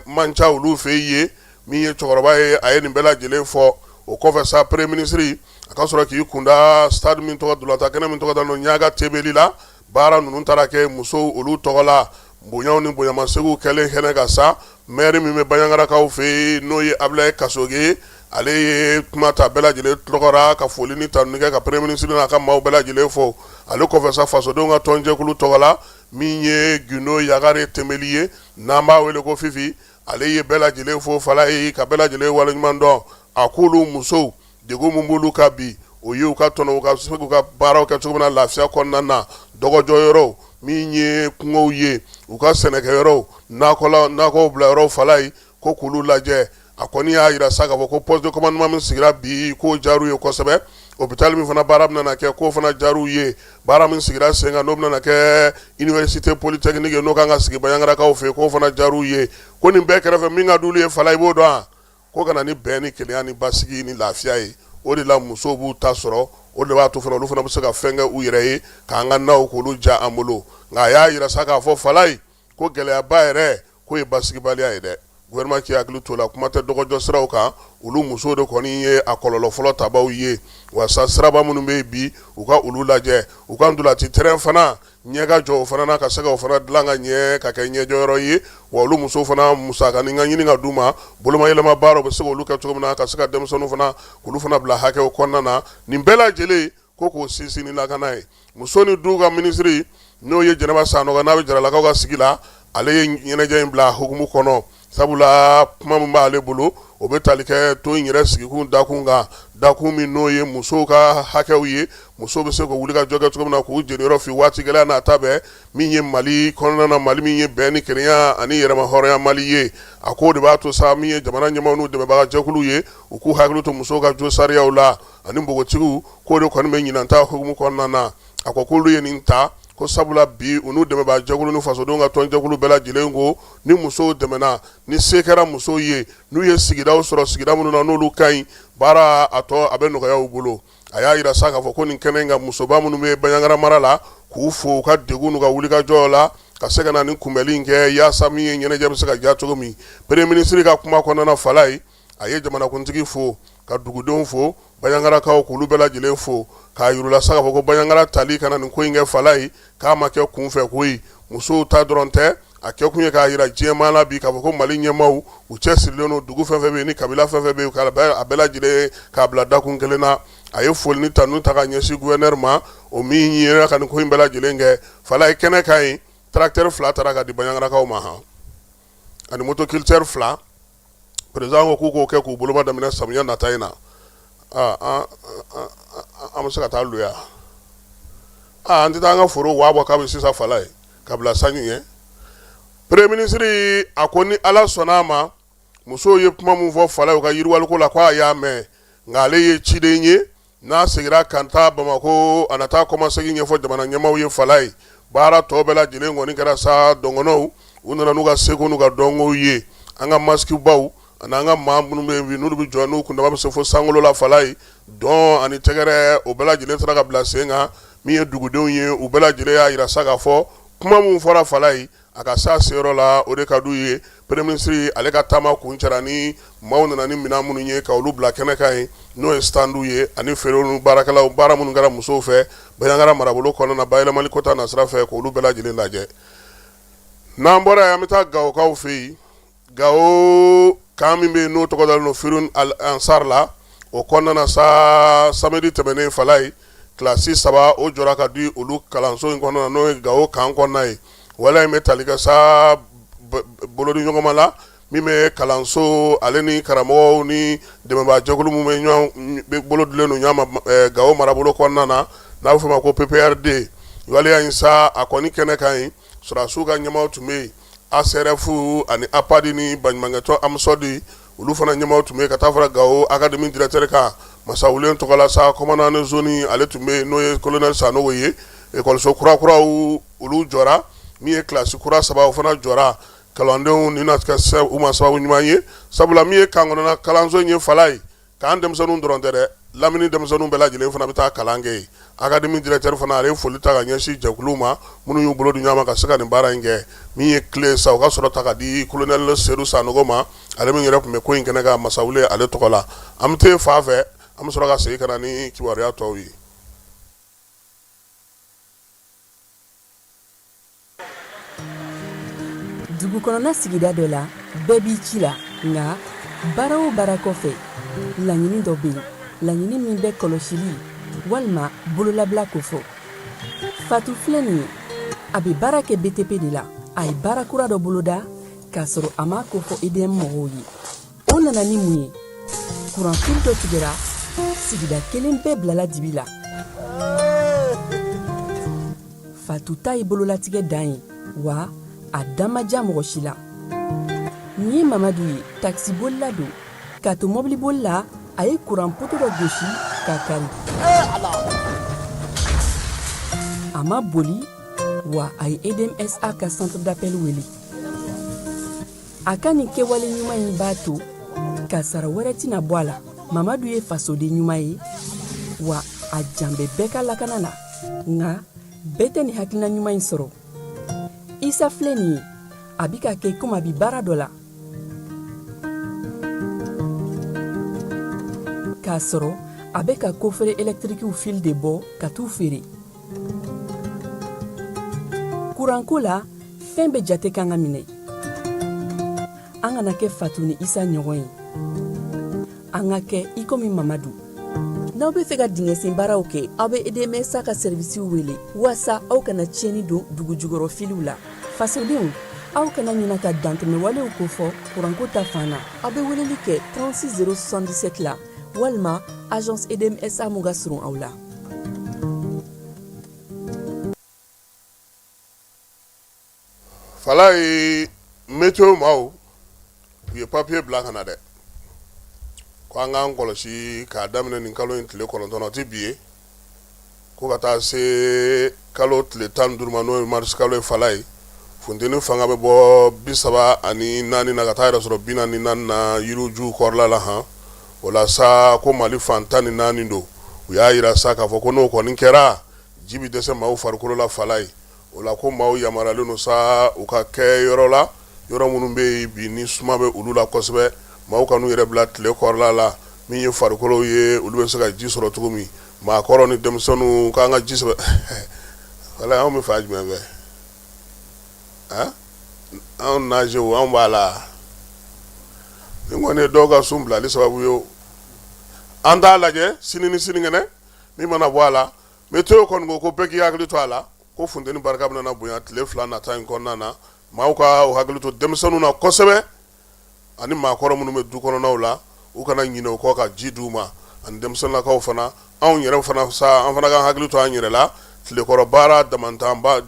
man ca olu fɛ ye min ye cɛkɔrɔba ye a ye nin bɛɛ lajɛlen fɔ o kɔfɛ sa premier ministre a ka sɔrɔ k'i kunda stade min tɔgɔ ntolatan kɛnɛ min tɔgɔ da ɲaga tembeli la baara ninnu taara kɛ musow olu tɔgɔ la Bonyaw ni bonyamasegiw kɛlen kɛnɛ kan sa mɛri min bɛ baɲagarakaw fɛ yen n'o ye abilayi kasoge ale ye kuma ta bɛɛ lajɛlen tɔgɔ la ka foli ni tanu kɛ ka premier ministre n'a ka maaw bɛɛ lajɛlen fo ale kɔfɛ sa fasodenw ka tɔnjɛkulu tɔgɔ la min ye gindo yagare tembeli ye n'an b'a wele ko fifi ale ye bɛɛ lajɛlen fo falaye ka bɛɛ lajɛlen waleɲuman dɔn a ko olu musow Degun min b'olu kan bi o ye u ka tɔnɔ u ka se k'u ka baaraw kɛ cogo min na lafiya kɔnɔna na dɔgɔjɔyɔrɔw min ye kungow ye u ka sɛnɛkɛyɔrɔw nakɔ bila yɔrɔw falaye ko k'olu lajɛ a kɔni y'a yira sa k'a fɔ ko poste de commandement min sigira bi k'o diyar'u ye kosɛbɛ hôpital min fana baara min bɛna kɛ k'o fana diyar'u ye baara min sigira sen kan n'o bɛna kɛ université polytechnique n'o kan ka sigi baɲagarakaw fɛ yen k'o fana diyar'u ye ko nin bɛɛ kɛrɛfɛ min ka d'olu ye falaye i b'o dɔn wa ko kana ni bɛn ni kelenya ni basigi ni lafiya ye o de la musow b'u ta sɔrɔ o de b'a to fana olu fana bɛ se ka fɛn kɛ u yɛrɛ ye k'an ka naw k'olu ja an bolo nka a y'a yira sa k'a fɔ falaye ko gɛlɛyaba yɛrɛ k'o ye basigibaliya ye dɛ gouvernement k'i hakili t'o la kuma tɛ dɔgɔjɔ siraw kan olu musow de kɔni ye a kɔlɔlɔ fɔlɔ tabaw ye wa sa siraba minnu bɛ yen bi u ka olu lajɛ u ka ntolati terrain fana ɲɛ ka jɔ o fana na ka se ka o fana dilan ka ɲɛ ka kɛ ɲɛjɔyɔrɔ ye wa olu musow fana musakanin ka ɲini ka d'u ma bolomayɛlɛma baara u bɛ se k'olu kɛ cogo min na ka se ka denmisɛnninw fana k'olu fana bila hakɛw kɔnɔna na nin bɛɛ lajɛlen ko k'o sinsin ni lakana ye muso ni du ka minisiri n'o ye jɛnɛba sanɔgɔ n'a bɛ jaralakaw ka sigi la ale ye ɲɛnajɛ in bila hukumu kɔnɔ Sabula kuma min b'ale bolo o bɛ taali kɛ to in yɛrɛ sigikun dakun kan dakun min n'o ye musow ka hakɛw ye musow bɛ se ka wuli ka jɔ kɛ cogo min na k'u jeniyɔrɔ fin waati gɛlɛn n'a ta bɛɛ min ye mali kɔnɔna na mali min ye bɛn ni kelenya ani yɛrɛma hɔrɔnya mali ye a ko o de b'a to sa min ye jamana ɲɛmaaw n'u dɛmɛbagajɛkulu ye u k'u hakili to musow ka josariyaw la ani npogotigiw k'o de kɔni bɛ ɲinan ta hukumu kɔnɔna na a ko k'olu ye nin ta ko sabula bi u n'u dɛmɛbaga jɛkulu ni fasodenw ka tɔnjɛkulu bɛɛ lajɛlen ko ni musow dɛmɛna ni se kɛra musow ye n'u ye sigidaw sɔrɔ sigida minnu na n'olu ka ɲi baara a tɔ a bɛ nɔgɔya u bolo a y'a yira sa k'a fɔ ko nin kɛnɛ in kan musoba minnu bɛ banjagara mara la k'u fo u ka degun n'u ka wulikajɔ la ka se ka na nin kunbɛnli in kɛ yaasa min ye ɲɛnajɛ bɛ se ka diya cogo min premier ministre ka kuma kɔnɔna fala ye a ye jamanakuntigi fo ka dugudenw fo banjagarakaw k'olu bɛɛ lajɛlen fo k'a yira sa k'a fɔ ko banjagara tali ka na nin ko in kɛ fala ye k'a ma kɛ kunfɛko ye musow ta dɔrɔn tɛ a kɛ kun ye k'a yira diɲɛmaa la bi k'a fɔ ko mali ɲɛmaaw u cɛsirilen don dugu fɛn fɛn ni kabila fɛn fɛn bɛ a bɛɛ lajɛlen k'a bila dakun kelen na a ye foli ni tanu ta ka ɲɛsin gouverneur ma o min yera ka nin ko in bɛɛ lajɛlen kɛ fala ye kɛnɛ kan yen tracteur fila taara ka di banjagarakaw ma hɔn ani motoculteur fila président ko k'u k'o kɛ k'u boloma daminɛ samiya nata in na an bɛ se ka taa luya an tɛ taa an ka foro waa bɔ kabi sisan fala ye ka bila sanji ɲɛ premier ministre a ko ni ala sɔnna a ma musow ye kuma min fɔ fala ye u ka yiriwaliko la ko a y'a mɛn nka ale ye ciden ye N'a segira ka taa bamakɔ a na taa kɔmasegin ɲɛfɔ jamana ɲɛmaaw ye fala ye baara tɔ bɛɛ lajɛlen kɔni kɛra sa dɔgɔnɔw u nana n'u ka seko n'u ka dɔnkow ye an ka masikibaw ani an ka maa minnu bɛ yen n'olu bɛ jɔ n'u kundama bɛ se fo sankolo la fala ye dɔn ani tɛgɛrɛ o bɛɛ lajɛlen sera ka bila sen kan min ye dugudenw ye u bɛɛ lajɛlen y'a yira sa k'a fɔ kuma min fɔra fala ye A ka se a seyɔrɔ la o de ka d'u ye premier ministre ale ka taama kuncɛra ni maaw nana ni minɛn minnu ye ka olu bila kɛnɛ kan yen n'o ye stand ye ani feerew ni baarakɛlaw baara minnu kɛra musow fɛ Banjagara marabolo kɔnɔna na bayɛlɛmali ko ta nasira fɛ k'olu bɛɛ lajɛlen lajɛ n'an bɔra yen an bɛ taa Gawokaw fɛ yen Gawo kan min bɛ yen n'o tɔgɔ dalen don Firhoun Al Ansar la, o kɔnɔna na sa, samedi tɛmɛnen fala ye classe 3 o jɔra ka di olu kalanso in kɔnɔna na n'o ye Gawo kan kɔnɔna ye. Waleya in bɛ tali kɛ sa bolodiɲɔgɔnma la min bɛ kalanso ale ni karamɔgɔw ni dɛmɛbaa jɛkulu minnu bɛ ɲɔgɔn bɛ bolo dilen don ɲɔgɔn ma ɛɛ Gawo marabolo kɔnɔna na n'a bɛ f'o ma ko PPRD waleya in sa a kɔni kɛnɛ kan yen Sɔrɔdasiw ka ɲɛmaaw tun bɛ yen, ASRF ani APAD ni baɲumankɛtɔn AMSODE olu fana ɲɛmaaw tun bɛ yen, ka taa fara Gawo académie directeur kan Masawulen tɔgɔ la sa, commandant de zone ale tun bɛ yen n'o ye colonel Sanogo ye, ekɔliso kura kuraw olu jɔra, min ye classe kura saba o fana jɔra, kalandenw nin na kɛ u ma sababu ɲuman ye, sabula min ye kan kɔnɔna kalanso in ye fala ye k'an denmisɛnninw dɔrɔn tɛ dɛ lamini denmisɛnninw bɛɛ lajɛlen fana bɛ taa kalan kɛ yen académie directeur fana ale ye foli ta ka ɲɛsin jɛkuluw ma minnu y'u bolo di ɲɔgɔn ma ka se ka nin baara in kɛ min ye clé sa o ka sɔrɔ ta ka di colonel Seydou Sanogo ma ale min yɛrɛ tun bɛ ko in kɛnɛ kan Masawulen ale tɔgɔ la an bɛ taa fan fɛ an bɛ sɔrɔ ka segin ka na ni kibaruya tɔw ye dugu kɔnɔna sigida dɔ la bɛɛ b'i ci la nka baara o baara kɔfɛ laɲini dɔ bɛ yen laɲini min bɛ kɔlɔsili walima bololabila ko fɔ fatu filɛ nin ye a bɛ baara kɛ btp de la a ye baara kura dɔ boloda k'a sɔrɔ a m'a ko fɔ edm mɔgɔw ye o nana ni mun ye kuran fili dɔ tigɛra sigida kelen bɛɛ bilala dibi la fatu ta ye bololatigɛ dan ye wa a da ma diya mɔgɔ si la nin ye mamadu ye takisibolila don k'a to mɔbiliboli la a ye kuran poto dɔ gosi k'a kari a ma boli wa a ye edmsa ka centre d'appel wele a ka nin kɛwale ɲuman in b'a to kasaara wɛrɛ tɛna bɔ a la mamadu ye fasoden ɲuman ye wa a jan bɛ bɛɛ ka lakana na nka bɛɛ tɛ nin hakilina ɲuman in sɔrɔ isa filɛ nin ye a bi k'a kɛ komi a bi baara dɔ la k'a sɔrɔ a bɛ ka kofere ɛlɛtirikiw fili de bɔ ka t'u feere kuranko la fɛn bɛɛ jate kan ka minɛ an kana kɛ fatu ni isa ɲɔgɔn ye an ka kɛ i komi mamadu n'aw bɛ fɛ ka dingɛsen baaraw kɛ aw bɛ edmsa ka sɛrivisiw wele walasa aw kana tiɲɛni don dugu jukɔrɔ filiw la fasodenw aw kana ɲina ka dantɛmɛwalew kofɔ kuranko ta fan na aw bɛ weleli kɛ 36077 la walima agence edmsa mun ka surun aw la falaye meteo maaw u ye papiye bila ka na dɛ ko an k'an kɔlɔsi k'a daminɛ nin kalo in tile kɔnɔntɔn o tɛ bi ye ko ka taa se kalo tile tan ni duuru ma n'o ye marisikalo ye falaye funteni fanga bɛ bɔ bi saba ani naani na ka taa yɛrɛ sɔrɔ bi naani na yirijuw kɔrɔla la hɔn o la sa ko mali fan tan ni naani don u y'a jira sa k'a fɔ ko n'o kɔni kɛra ji bɛ dɛsɛ maaw farikolo la falaye o la ko maaw yamaruyalen don sa u ka kɛ yɔrɔ la yɔrɔ minnu bɛ yen bi ni suma bɛ olu la kosɛbɛ maaw kan'u yɛrɛ bila tile kɔrɔla la min ye farikolo ye olu bɛ se ka ji sɔrɔ cogo min Maakɔrɔ ni denmisɛnninw kan ka ji sɛbɛ wala anw bɛ fan jumɛn fɛ anw naz anw b'a la nin kɔni ye dɔw ka sun bilali sababu ye an t'a lajɛ sini ni sinikɛnɛ min mana bɔ a la meteo kɔni ko ko bɛɛ k'i hakili to a la ko funteni barika bɛna bonya tile fila nata in kɔnɔna na maaw k'u hakili to denmisɛnninw na kosɛbɛ ani maakɔrɔ minnu bɛ du kɔnɔnaw la u kana ɲinɛ u kɔ ka ji di u ma ani denmisɛnninlakaw fana anw yɛrɛ fana sa an fana ka hakili to an yɛrɛ la tilekɔrɔ baara damatɛmɛ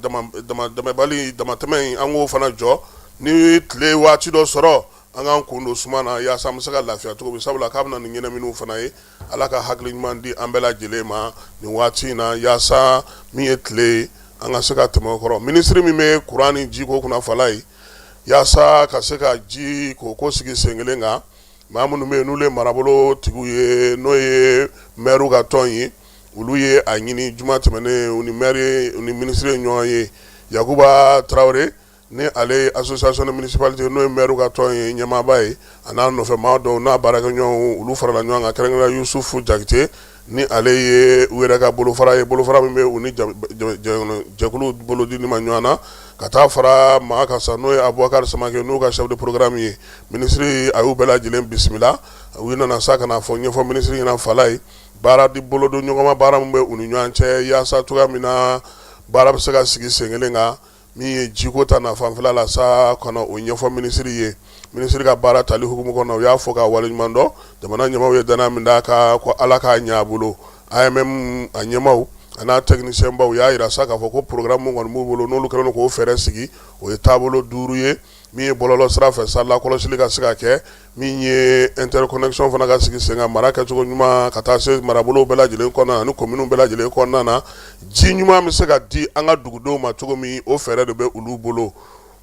in an k'o fana jɔ ni tile waati dɔ sɔrɔ an k'an kun don suma na yaasa an bɛ se ka lafiya cogo min sabula k'a bɛ na ni ɲɛnamini fana ye ala ka hakili ɲuman di an bɛɛ lajɛlen ma nin waati in na yaasa min ye tile ye an ka se ka tɛmɛ o kɔrɔ minisiri min bɛ kuran ni jiko kunna falaye Yaasa ka se ka jiko k'o sigi sen kelen kan maa minnu bɛ yen n'olu ye marabolo tigiw ye n'o ye mɛriw ka tɔn ye olu ye a ɲini juma tɛmɛnen ni mɛriw ni minisiri ye ɲɔgɔn ye yakuba tarawele ni ale ye association des municipalités n'o ye mɛriw ka tɔn ye ɲɛmaaba ye a n'a nɔfɛ maa dɔw n'a baarakɛɲɔgɔnw olu farala ɲɔgɔn kan kɛrɛnkɛrɛnnenya yusufu jakite ni ale ye u yɛrɛ ka bolofara ye bolofara min bɛ u ni jɛkulu bolodili ma ɲɔgɔn na ka taa fara maa kan sa n'o ye abubakari samake n'u ka chef de programme ye minisiri a y'u bɛɛ lajɛlen bisimila u nana sa ka n'a fɔ ɲɛfɔ minisiri ɲɛna falaye baara di bolodonɲɔgɔnma baara min bɛ u ni ɲɔgɔn cɛ yaasa cogoya min na baara bɛ se ka sigi sen kelen kan min ye jiko ta na fanfɛla la sa ka na o ɲɛfɔ minisiri ye minisiri ka baara tali hukumu kɔnɔ u y'a fo k'a waleɲuman dɔn jamana ɲɛmaaw ye dannaya min d'a kan ko ala k'a ɲɛ a bolo AMM a ɲɛmaaw a n'a technicienbaw u y'a yira sa k'a fɔ ko programme min kɔni b'u bolo n'olu kɛlen k'o fɛɛrɛ sigi o ye taabolo duuru ye min ye bɔlɔlɔ sira fɛ sa lakɔlɔsili ka se ka kɛ min ye interconnexion fana ka sigi sen kan mara kɛcogo ɲuman ka taa se marabolow bɛɛ lajɛlen kɔnɔna na ani kominiw bɛɛ lajɛlen kɔnɔna na ji ɲuman bɛ se ka di an ka dugudenw ma cogo min o fɛɛrɛ de bɛ olu bolo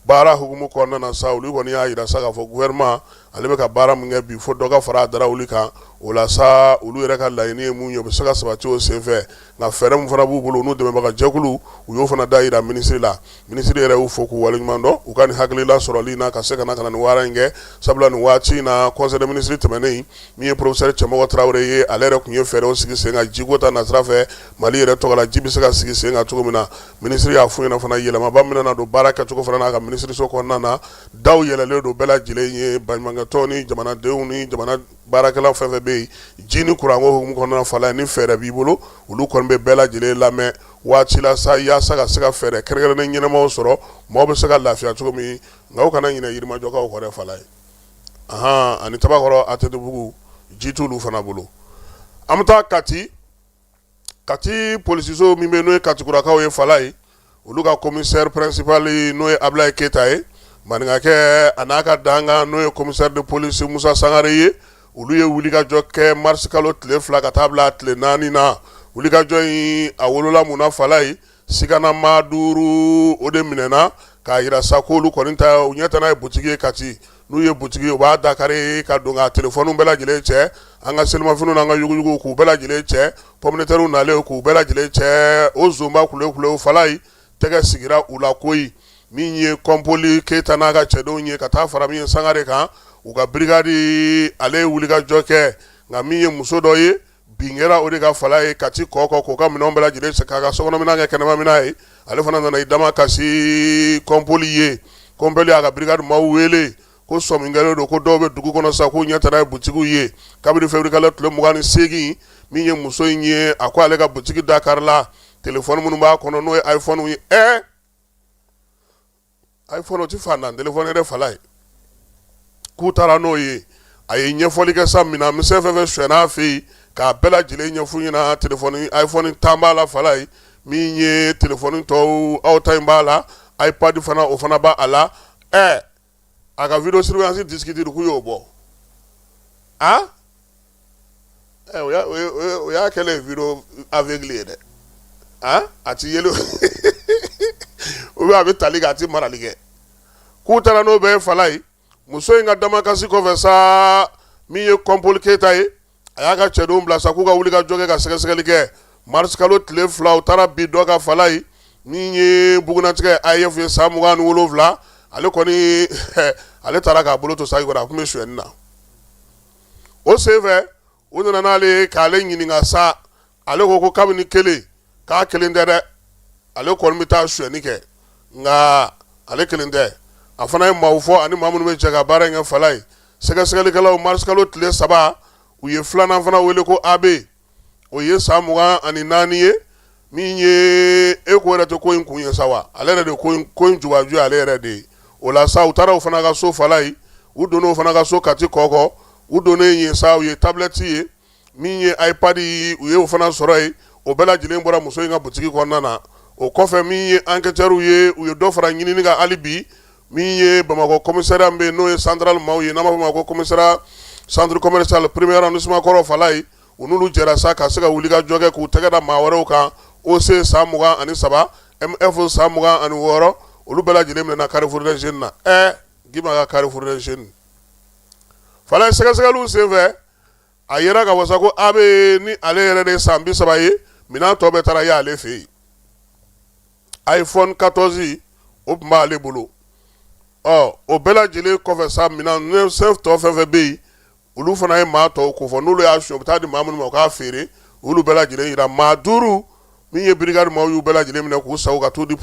baara hukumu kɔnɔna na sa olu kɔni y'a yira sa k'a fɔ gouvernement ale bɛ ka baara min kɛ bi fo dɔ ka fara a da wuli kan o la sa olu yɛrɛ ka laɲini ye mun ye o bɛ se ka sabati o senfɛ nka fɛɛrɛ min fana b'u bolo n'u dɛmɛbaga jɛkulu u y'o fana da yira minisiri la minisiri yɛrɛ y'u fo k'u waleɲuman dɔn u ka nin hakilila sɔrɔli na ka se ka na ka na nin baara in kɛ sabula nin waati in na conseil des ministres tɛmɛnen min ye professeur cɛmɔgɔ tarawele ye ale yɛrɛ tun ye fɛɛrɛw sigi sen kan jiko ta nasira fɛ mali yɛrɛ tɔgɔ la ji bɛ se ka sigi sen kan cogo min na minisiri y'a fɔ ɲɛna fana yɛlɛmaba min na don baara kɛcogo fana n'a ka minisiriso kɔnɔna na daw yɛlɛlen don bɛɛ lajɛlen ye baɲumankɛtɔn ni jamanadenw ni jamana baarakɛlaw fɛn fɛn bɛ yen ji ni kuranko hukumu kɔnɔna falaye ni fɛɛrɛ b'i bolo olu kɔni bɛ bɛɛ lajɛlen lamɛn waati la sa yaasa ka se ka fɛɛrɛ kɛrɛnkɛrɛnnen ɲɛnamaw sɔrɔ maaw bɛ se ka lafiya cogo min nka u kana ɲinɛ yirimajɔkaw kɔ dɛ falaye ahan ani tabakɔrɔ atetebugu ji t'olu fana bolo an bɛ taa Kati kati polisiso min bɛ n'o ye katikurakaw ye falaye olu ka commissaire principal n'o ye ablaye keyita ye maninkakɛ a n'a ka dankan n'o ye commissaire de police musa sangare ye olu ye wulikajɔ kɛ marisikalo tile fila ka taa bila tile naani na wulikajɔ in a wolola mun na falaye Sigana maa duuru o de minɛɛna k'a jira sa ko olu kɔni ta u ɲɛ tana ye boutique ye Kati n'u ye boutique ye u b'a dakari ka don ka telefɔniw bɛɛ lajɛlen cɛ an ka selimafiniw n'an ka yuguyuguw k'u bɛɛ lajɛlen cɛ pomme de terres nalen k'u bɛɛ lajɛlen cɛ o zonba kulew-kulew Falayi tɛgɛ sigira u la koyi min ye Kɔnpoli Keyita n'a ka cɛdenw ye ka taa fara min ye Sangare kan u ka brigade ale ye wulikajɔ kɛ nka min ye muso dɔ ye bin kɛra o de kan Falaye Kati Kɔkɔ k'o ka minɛn bɛɛ lajɛlen sa k'a ka sokɔnɔminan kɛ kɛnɛmaminan ye ale fana nana i damakasi kɔnpoli ye kɔnpoli y'a ka brigade maaw wele ko sɔmi kɛlen don ko dɔw bɛ dugu kɔnɔ sa k'u ɲɛ tana ye butigiw ye kabini février kalo tile mugan ni segingin min ye muso in ye a ko ale ka butigi da karila telefɔni minnu b'a kɔnɔ n'o ye iPhone ye ɛ iPhone o tɛ fantan telefɔni ye dɛ Falaye k'u taara n'o ye a ye ɲɛfɔli kɛ sa minan misɛn fɛn fɛn sonyɛna a fɛ yen k'a bɛɛ lajɛlen ɲɛf'u ɲɛna telefɔni iPhone tan b'a la Falaye min ye telefɔni tɔw aw ta in b'a la iPad fana o fana b'a la ɛ a ka vidéo surveillance disque dur k'u y'o bɔ a ɛ o y'a kɛlen video aveugle ye dɛ han a ti yeli ou bien a bɛ tali kɛ a ti marali kɛ k'u taara n'o bɛɛ ye Falaye muso in ka damakasi kɔfɛ sa min ye kɔnpoli keyita ye a y'a ka cɛdenw bila sa k'u ka wulikajɔ kɛ ka sɛgɛsɛgɛli kɛ mars kalo tile fila u taara bin dɔ kan Falaye min ye bugunnatigɛ AEF ye san mugan ni wolonwula ale kɔni ale tara k'a bolo to saki kɔnɔ a tun bɛ sonyɛni na o senfɛ u nana n'ale ye k'ale ɲininka sa ale ko ko kabini kelen k'a kelen tɛ dɛ ale kɔni bɛ taa sonyɛni kɛ nka ale kelen tɛ a fana ye maaw fɔ ani maa minnu bɛ jɛ ka baara in kɛ Falaye sɛgɛsɛgɛlikɛlaw mars kalo tile saba u ye filanan fana wele ko AB o ye san mugan ani naani ye min ye ɛ k'o yɛrɛ de ko in kun ye sa wa ale yɛrɛ de ko in jubaju ye ale yɛrɛ de ye o la sa u taara o fana ka so Falaye u donnen o fana ka so Kati Kɔkɔ u donnen yen sa u ye tablɛti ye min ye iPad u ye o fana sɔrɔ yen o bɛɛ lajɛlen bɔra muso in ka butigi kɔnɔna na o kɔfɛ min ye enquêteurw ye u ye dɔ fara ɲinini kan hali bi min ye Bamakɔ commissariat bɛ yen n'o ye central maaw ye n'a b'a fɔ o ma ko commissariat centre commercial premier arrondissement kɔrɔ Falaye u n'olu jɛra sa ka se ka wulikajɔ kɛ k'u tɛgɛ da maa wɛrɛw kan OC san mugan ani saba MF san mugan ani wɔɔrɔ olu bɛɛ lajɛlen minɛna Carrefour des Jeunes na ɛ Gima ka Carrefour des Jeunes Falaye sɛgɛsɛgɛliw senfɛ a yera ka wasa ko AB ni ale yɛrɛ de ye san bi saba ye minɛn tɔ bɛɛ taara y'ale fɛ yen iPhone katɔzi o tun b'ale bolo ɔ o bɛɛ lajɛlen kɔfɛ sa minɛn tɔ fɛn fɛn bɛ yen olu fana ye maa tɔw ko fɔ n'olu y'a suɲɛ u bɛ taa di maa minnu ma u k'a feere olu bɛɛ lajɛlen yira maa duuru min ye brigade maaw y'u bɛɛ lajɛlen minɛ k'u sa ka t'u di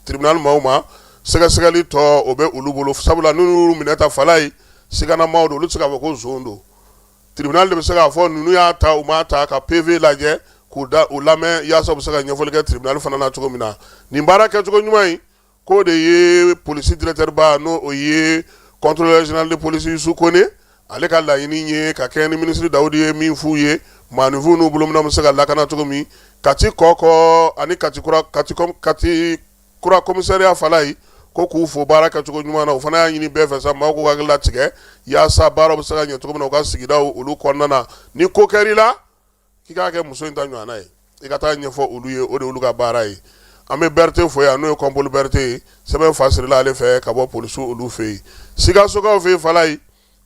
tribunal maaw ma sɛgɛsɛgɛli tɔ o bɛ olu bolo sabula ninnu minɛta fala ye sigana maaw don olu tɛ se k'a fɔ ko zon don tribunal de bɛ se k'a fɔ ninnu y'a ta u m'a ta ka PV lajɛ k'u da u lamɛn yaasa u bɛ se ka ɲɛfɔli kɛ tribunal fana na cogo min na nin baara kɛcogo ɲuman in k'o de ye polisi directeur ba n'o o ye contrôleur général de police Yusu Kone ale ka laɲini ye ka kɛɲɛ ni minisiri Dawudi ye min f'u ye maaninfinw n'u bolominɛw bɛ se ka lakana cogo min Kati kɔkɔ ani Kati kura komisariya fala ye ko k'u fo baara kɛcogo ɲuman na o fana y'a ɲini bɛɛ fɛ sa maaw k'u hakili latigɛ yaasa baaraw bɛ se ka ɲɛ cogo min na u ka sigidaw olu kɔnɔna na ni ko kɛra i la k'i k'a kɛ muso in ta ɲɔgɔnna ye i ka taa ɲɛfɔ olu ye o de olu ka baara ye an bɛ berete fo yan n'o ye kɔnpoli berete ye sɛbɛn fasirila ale fɛ ka bɔ polisiw olu fɛ yen sikasokaw fɛ yen fala ye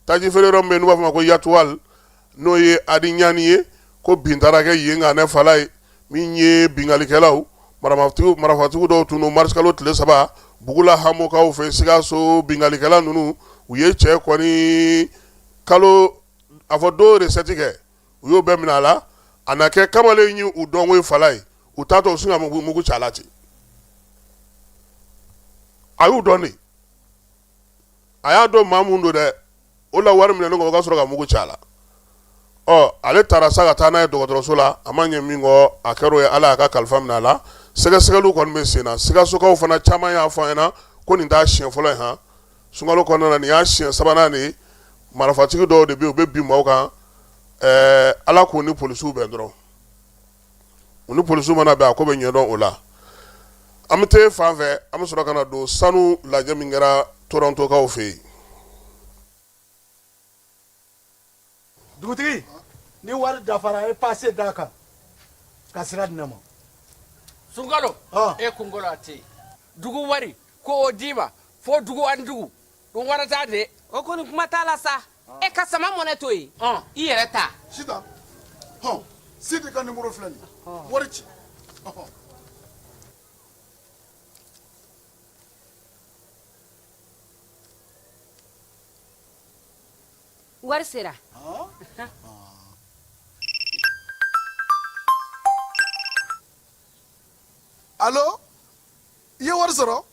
taji feere yɔrɔ min bɛ yen n'u b'a f'a ma ko yatuwal n'o ye adi ɲani ye ko bin taara kɛ yen ka ne fala ye min ye binkalikɛlaw marafatigiw dɔw tun don marisikalo tile saba bugula hamokaw fɛ sikaso binkalikɛla ninnu u ye cɛ kɔni kalo a fɔ don resɛti kɛ u y'o bɛɛ minɛ a la a na kɛ kamalen ye u dɔnko ye fala ye u taatɔ u sin ka mugu ci a la ten a y'u dɔn de a y'a dɔn maa mun don dɛ o la wari minɛnen kɔ u ka sɔrɔ ka mugu ci a la ɔ ale taara sa ka taa n'a ye dɔgɔtɔrɔso la a ma ɲɛ min kɔ a kɛr'o ye ala y'a ka kalifa minɛ a la sɛgɛsɛgɛliw kɔni bɛ sen na sikasokaw fana caman y'a fɔ an ɲɛna ko nin t'a siɲɛ fɔlɔ ye h sunkalo kɔnɔna nin y'a siɲɛ sabanan de ye marifatigi dɔw de bɛ yen u bɛ bin maaw kan ala k'u ni polisiw bɛn dɔrɔn u ni polisiw mana bɛn a ko bɛ ɲɛdɔn o la an bɛ taa fan fɛ an bɛ sɔrɔ ka na don sanu lajɛ min kɛra tɔrɔntokaw fɛ yen dugutigi ni wari dafara e paase d'a kan ka sira di ne ma sunkalo e kunkolo a tɛ yen dugu wari ko o d'i ma fo dugu ani dugu o wari t'a de o kɔni kuma t'a la sa e ka sama mɔnɛ to yen i yɛrɛ ta sita hɔn sidi ka nimoro filɛ nin ye wari ci wari sera alo i ye wari sɔrɔ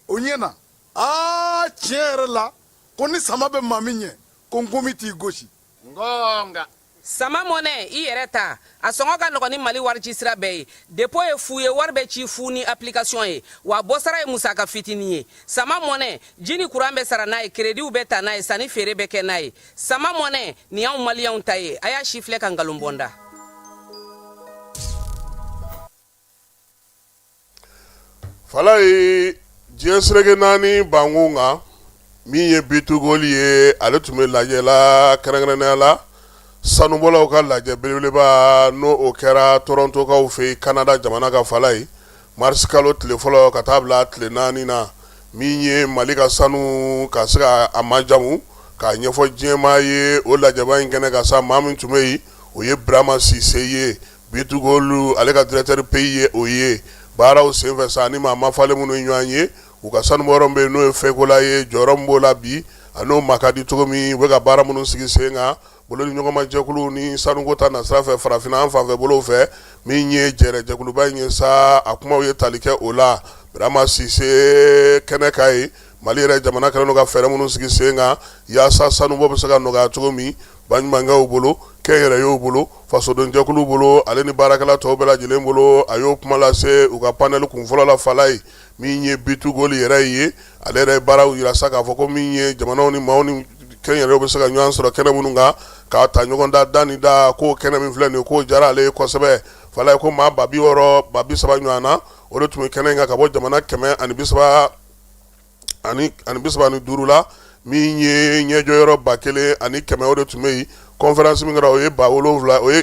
o ɲɛna aa tiɲɛ yɛrɛ la ko ni sama bɛ maa min ɲɛ ko nkomi t'i gosi ngɔnga sama mɔnɛ i yɛrɛ ta a sɔngɔ ka nɔgɔn ni mali warici sira bɛɛ ye depo ye fu ye wari bɛ ci fu ni application ye wa bɔsara ye musaka fitinin ye sama mɔnɛ ji ni kuran bɛ sara n'a ye kerediw bɛ ta n'a ye sanni feere bɛ kɛ n'a ye sama mɔnɛ nin y'anw maliyɛnw ta ye a y'a sifilɛ ka nkalon bɔ n da Falaye diɲɛ sereke naani bankun kan min ye Bitugoli ye ale tun bɛ lajɛ la kɛrɛnkɛrɛnnenya la sanubɔlaw ka lajɛ belebeleba n'o o kɛra Torontokaw fɛ yen Kanada jamana ka Falaye marisikalo tile fɔlɔ ka taa bila tile naani na min ye mali ka sanu ka se ka a majamu k'a ɲɛfɔ diɲɛmaa ye o lajɛba in kɛnɛ kan sa maa min tun bɛ yen o ye burama sise ye Bitugoli ale ka directeur pays ye o ye baaraw senfɛ sa ani maa ma falen minnu ye ɲɔgɔn ye u ka sanubɔyɔrɔ bɛ yen n'o ye Fɛkola ye jɔyɔrɔ min b'o la bi a n'o ma ka di cogo min u bɛ ka baara minnu sigi sen kan bolodiɲɔgɔnmajɛkulu ni sanuko ta nasira fɛ farafinna an fanfɛ bolo fɛ min ye jɛrɛ jɛkuluba in ye sa a kumaw ye tali kɛ o la Burama sise kɛnɛ kan yen Mali yɛrɛ jamana kɛlen don ka fɛɛrɛ minnu sigi sen kan yaasa sanubɔ bɛ se ka nɔgɔya cogo min baɲumankɛw bolo kɛnyɛrɛyew bolo fasodenjɛkulu bolo ale ni baarakɛla tɔw bɛɛ lajɛlen bolo a y'o kuma lase u ka panɛli kunfɔlɔ la Falaye min ye Bitugoli yɛrɛ ye ale yɛrɛ ye baaraw jira sa k'a fɔ ko min ye jamanaw ni maaw ni kɛnyɛrɛyew bɛ se ka ɲɔgɔn sɔrɔ kɛnɛ minnu kan k'a ta ɲɔgɔn da da ni da k'o kɛnɛ min filɛ nin ye k'o diyara ale ye kosɛbɛ Falaye ko maa ba bi wɔɔrɔ ba bi saba ɲɔgɔn na o de tun bɛ kɛnɛ in kan ka bɔ jamana kɛmɛ ani bi saba ani ani bi saba ni duuru la min ye ɲɛjɔyɔrɔ ba kelen ani kɛmɛ o de tun bɛ yen kɔnfɛransi min kɛra o ye ba wolonwula o ye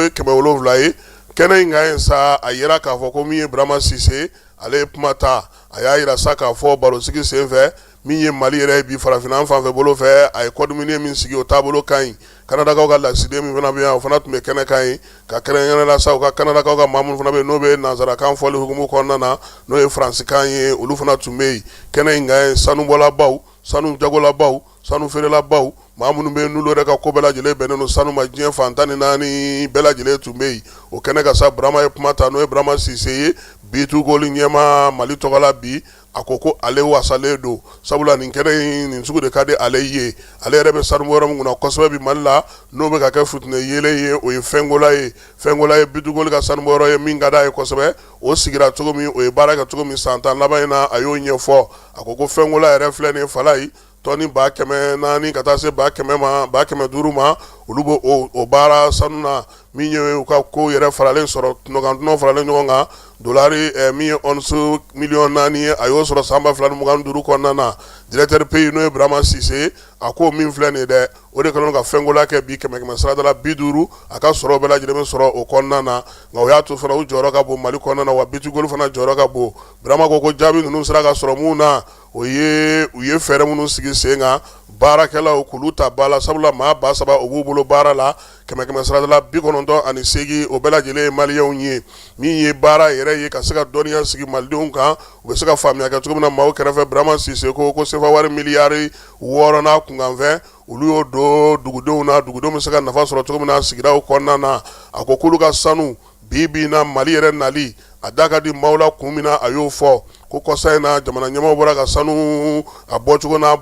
kɛmɛ wolonwula ye kɛnɛ in kan yen sa a yira k'a fɔ ko min ye burama sise ale ye kuma ta a y'a jira sa k'a fɔ barosigi senfɛ min ye mali yɛrɛ ye bi farafinna an fanfɛ bolo fɛ a ye code minier min sigi o taabolo ka ɲi Kanadakaw ka lasigiden min fana bɛ yan o fana tun bɛ kɛnɛ kan yen ka kɛrɛnkɛrɛn na sa u ka Kanadakaw ka maa minnu fana bɛ yen n'o bɛ nansarakan fɔli hukumu kɔnɔna na n'o ye faransikan ye olu fana tun bɛ yen kɛnɛ in kan yen sanubɔlabaw sanu jagolabaw sanu feerelabaw maa minnu bɛ yen n'olu yɛrɛ ka ko bɛɛ lajɛlen bɛnnen don sanu ma diɲɛ fan tan ni naani bɛɛ lajɛlen tun bɛ yen o kɛnɛ kan sa Burama ye kuma ta n'o ye Burama Sise ye Bitugoli ɲɛmaa Mali tɔgɔla bi a ko ko ale wasalen don sabula nin kɛnɛ in nin sugu de ka di ale ye ale yɛrɛ bɛ sanubɔyɔrɔ min kunna kosɛbɛ bi mali la n'o bɛ ka kɛ fitinɛ yeelen ye o ye Fɛkola ye Fɛkola ye Bitugoli ka sanubɔyɔrɔ ye min ka d'a ye kosɛbɛ o sigira cogo min o ye baara kɛ cogo min san tan laban in na a y'o ɲɛfɔ a ko ko Fɛkola yɛrɛ filɛ nin Falaye tɔni ba kɛmɛ naani ka taa se ba kɛmɛ ma ba kɛmɛ duuru ma olu bɛ o baara sanu na min ye u ka ko yɛrɛ faralen sɔrɔ tɔnɔ faralen ɲɔgɔn kan dolari min ye once miliyɔn naani ye a y'o sɔrɔ san ba fila ni mugan duuru kɔnɔna na directeur pays n'o ye burama sise a ko min filɛ nin dɛ o de kɛlen ka fekola kɛ bi kɛmɛ kɛmɛ sarada bi duuru a ka sɔrɔ bɛɛ lajɛlen bɛ sɔrɔ o kɔnɔna na nka o y'a to fana u jɔyɔrɔ ka bon mali kɔnɔna na wa bitugoli fana jɔyɔrɔ ka bon burama ko ko jaabi ninnu sera ka sɔrɔ minnu na o ye u ye fɛɛrɛ minnu sigi sen kan baarakɛlaw k'olu ta ba la sabula maa ba saba u b'u bolo baara la kɛmɛ kɛmɛ sarada la bi kɔnɔntɔn ani segin o bɛɛ lajɛlen ye maliyɛnw ye min ye baara yɛrɛ ye ka se ka dɔnniya sigi malidenw kan u bɛ se ka faamuya kɛ cogo min na maaw kɛrɛfɛ burama sise ko ko sefa wari miliyari wɔɔrɔ n'a kunkanfɛn olu y'o don dugudenw na dugudenw bɛ se ka nafa sɔrɔ cogo min na sigidaw kɔnɔna na a ko k'olu ka sanu bi bi na mali yɛrɛ nali a da ka di maaw la kun min na a y'o fɔ ko kɔsa in na jamana ɲɛmaaw bɔra ka sanu a bɔcogo n'a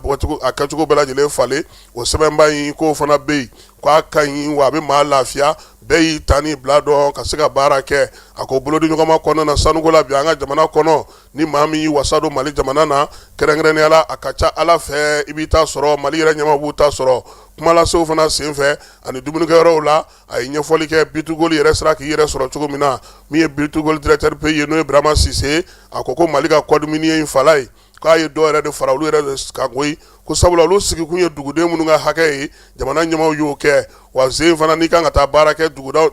a kɛcogo bɛɛ lajɛlen falen o sɛbɛnba in k'o fana bɛ yen k'a ka ɲi wa a bɛ maa lafiya bɛɛ y'i ta n'i bila dɔn ka se ka baara kɛ a ko bolodi ɲɔgɔnma kɔnɔna na sanuko la bi an ka jamana kɔnɔ ni maa min y'i wasa don mali jamana na kɛrɛnkɛrɛnya la a ka ca ala fɛ i b'i ta sɔrɔ mali yɛrɛ ɲɛmaaw b'u ta sɔrɔ kumalasew fana senfɛ ani dumunikɛ yɔrɔw la a ye ɲɛfɔli kɛ bitugoli yɛrɛ sera k'i yɛrɛ sɔrɔ cogo min na min ye bitugoli directeur pays ye n'o ye Burama Sise a ko ko Mali ka code minier in fala ye k'a ye dɔ yɛrɛ de fara olu yɛrɛ de kan koyi ko sabula olu sigikun ye duguden minnu ka hakɛ ye jamana ɲɛmaaw y'o kɛ wa sen fana n'i kan ka taa baara kɛ duguda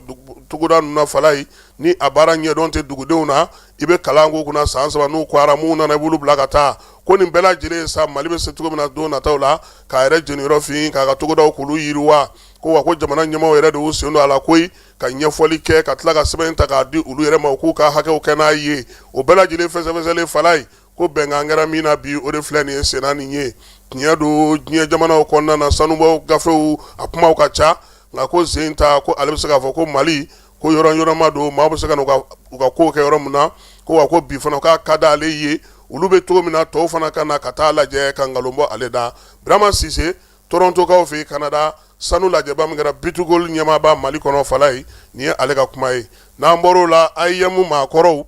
togoda ninnu na fala ye ni a baara ɲɛdɔn tɛ dugudenw na i bɛ kalan k'u kunna san saba n'u kɔra minnu nana i b'olu bila ka taa ko nin bɛɛ lajɛlen sa Mali bɛ se cogo min na don nataw la k'a yɛrɛ jeniyɔrɔ fin k'a ka togodaw k'olu yiriwa ko wa ko jamana ɲɛmaaw yɛrɛ de y'u sen don a la koyi ka ɲɛfɔli kɛ ka tila ka sɛbɛn ta k'a di olu yɛrɛ ma k'u ka hakɛw kɛ n'a ye o bɛɛ lajɛlen fɛsɛfɛsɛlen fala ye ko bɛnkan kɛra min na bi o de filɛ nin ye senna nin ye tiɲɛ don diɲɛ jamanaw kɔnɔna na sanubɔ gafew a kumaw ka ca nka ko sen ta ko ale bɛ se k'a fɔ ko mali ko yɔrɔ yɔrɔma don maa bɛ se ka u ka ko kɛ yɔrɔ min na ko wa ko bi fana k'a ka da ale ye olu bɛ cogo min na tɔw fana ka na ka taa lajɛ ka nkalon bɔ ale da birama sise torontokaw fɛ kanada sanu lajɛba min kɛra bitugoli ɲɛmaaba mali kɔnɔ fala ye nin ye ale ka kuma ye n'an bɔr'o la AEEM maakɔrɔw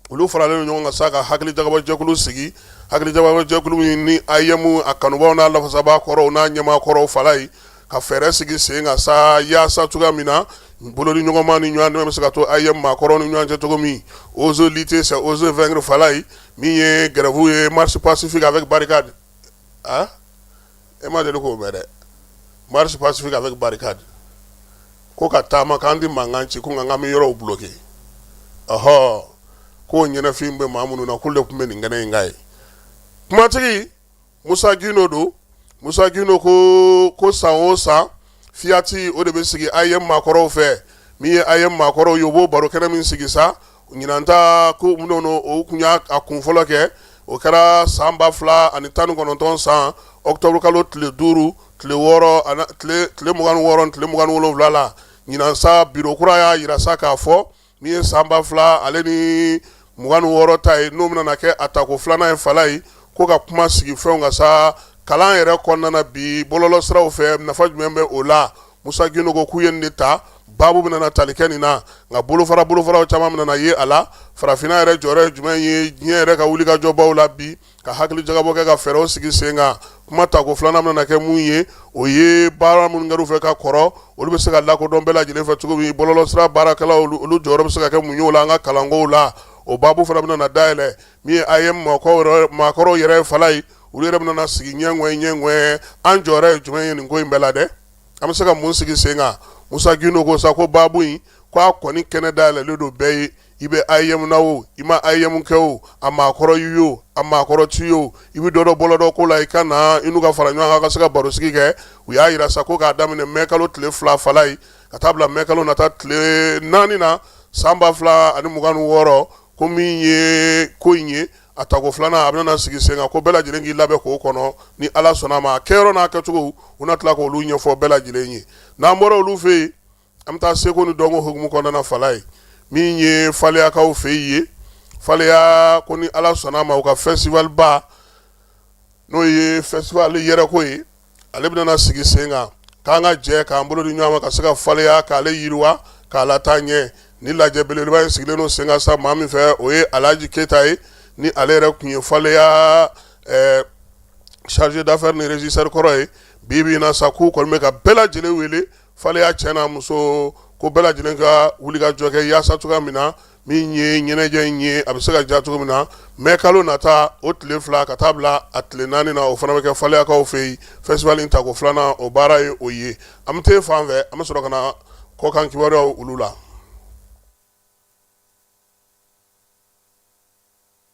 olu faralen ɲɔgɔn kan sa ka hakili jagabɔ jɛkulu sigi hakili jagabɔ jɛkulu in ni AEEM a kanubaw n'a lafasaba kɔrɔw n'a ɲɛmaa kɔrɔw fala ye ka fɛɛrɛ sigi sen kan sa yaasa cogoya min na bolodi ɲɔgɔnma ni ɲɔgɔn dɛmɛ bɛ se ka to AEEM maakɔrɔw ni ɲɔgɔn cɛ cogo min oser lutter c'est oser vaincre fala ye min ye grève ye marche pacifique a bɛ barika de a e ma deli k'o mɛn dɛ marche pacifique avec barricade ko ka taama k'an tɛ mankan ci ko nka k'an bɛ yɔrɔw bloqué ahɔ ko ɲɛnafin bɛ maa minnu na k'olu de tun bɛ nin kɛnɛ in kan ye kumatigi musa gindo don musa gindo ko san o san fiyati o de bɛ sigi AEEM maakɔrɔw fɛ min ye AEEM maakɔrɔw ye u b'o baro kɛnɛ min sigi sa Ɲinan ta ko u tun y'a kun fɔlɔ kɛ o kɛra san ba fila ani tan kɔnɔntɔn san octobre kalo tile duuru tile wɔɔrɔ tile mugan wɔɔrɔ tile mugan wolonwula la ɲinan sa biro kura y'a jira sa k'a fɔ min ye san ba fila ale ni mugan wɔɔrɔ ta ye n'o bɛna kɛ a tako filanan ye fala ye ko ka kuma sigi fɛn kan sa kalan yɛrɛ kɔnɔna bi bɔlɔlɔsiraw fɛ nafa jumɛn bɛ o la Musa Gindo ko k'u ye nin de ta baabu bɛna na tali kɛ nin na nka bolofara bolofaraw caman bɛna na ye a la farafinna yɛrɛ jɔyɔrɔ ye jumɛn ye diɲɛ yɛrɛ ka wulikajɔbaw la bi ka hakili jagabɔ kɛ ka fɛɛrɛw sigi sen kan kuma tako filanan bɛna kɛ mun ye o ye baara minnu kɛr'u fɛ ka kɔrɔ olu bɛ se ka lakodɔn bɛɛ lajɛlen fɛ cogo min bɔlɔlɔsira baarakɛlaw olu jɔyɔrɔ bɛ se ka kɛ mun ye o la an ka kalankow la o baabu fana bɛna na dayɛlɛ min ye AEEM maakɔrɔw yɛrɛ fala ye u yɛrɛ bɛna sigi ɲɛ ɲɛ ɲɛ an jɔyɔrɔ ye jumɛn ye nin ko in bɛɛ la dɛ an bɛ se ka mun sigi sen kan musa gindo ko sa ko baabu in k'a kɔni kɛnɛ dayɛlɛlen don bɛɛ ye i bɛ AEEM na o i ma AEEM kɛ o a maakɔrɔ y'i ye o a maakɔrɔ t'i ye o i bɛ dɔ dɔn bɔlɔlɔ ko la i ka na i n'u ka fara ɲɔgɔn kan ka se ka barosigi kɛ u y'a jira sa ko k'a daminɛ mɛ kalo tile fila fala ye ka taa bila mɛ kalo nata tile naani na san ba fila ani mugan wɔɔrɔ ko min ye ko in ye a tako filanan a bɛna sigi sen kan ko bɛɛ lajɛlen k'i labɛn k'o kɔnɔ ni ala sɔnna ma a kɛyɔrɔ n'a kɛcogo u na tila k'olu ɲɛfɔ bɛɛ lajɛlen ye n'an bɔra olu fɛ yen an bɛ taa seko ni dɔnko hukumu kɔnɔna fala ye min ye faleyakaw fɛ yen ye faleya ko ni ala sɔnna ma u ka festival ba n'o ye festival yɛrɛko ye ale bɛna sigi sen kan k'an ka jɛ k'an bolo di ɲɔgɔn ma ka se ka faleya k'ale yiriwa k'a lataa ɲɛ nin lajɛ belebeleba in sigilen don sen kan sa maa min fɛ o ye alhaji keyita ye ni ale yɛrɛ tun ye faleya eh, chargé d'affaires ni régisseur kɔrɔ ye bi bi in na sa k'u kɔni bɛ ka bɛɛ lajɛlen wele faleya cɛ n'a muso ko bɛɛ lajɛlen ka wulikajɔ kɛ yaasa cogoya min na min ye ɲɛnajɛ in ye a bɛ se ka diya cogo min na mɛ kalo nata o tile fila ka taa bila a tile naani na o fana bɛ kɛ faleyakaw fɛ yen festival in tako filanan o baara ye o ye an bɛ taa fan fɛ an bɛ sɔrɔ ka na kɔkan kibaruyaw olu la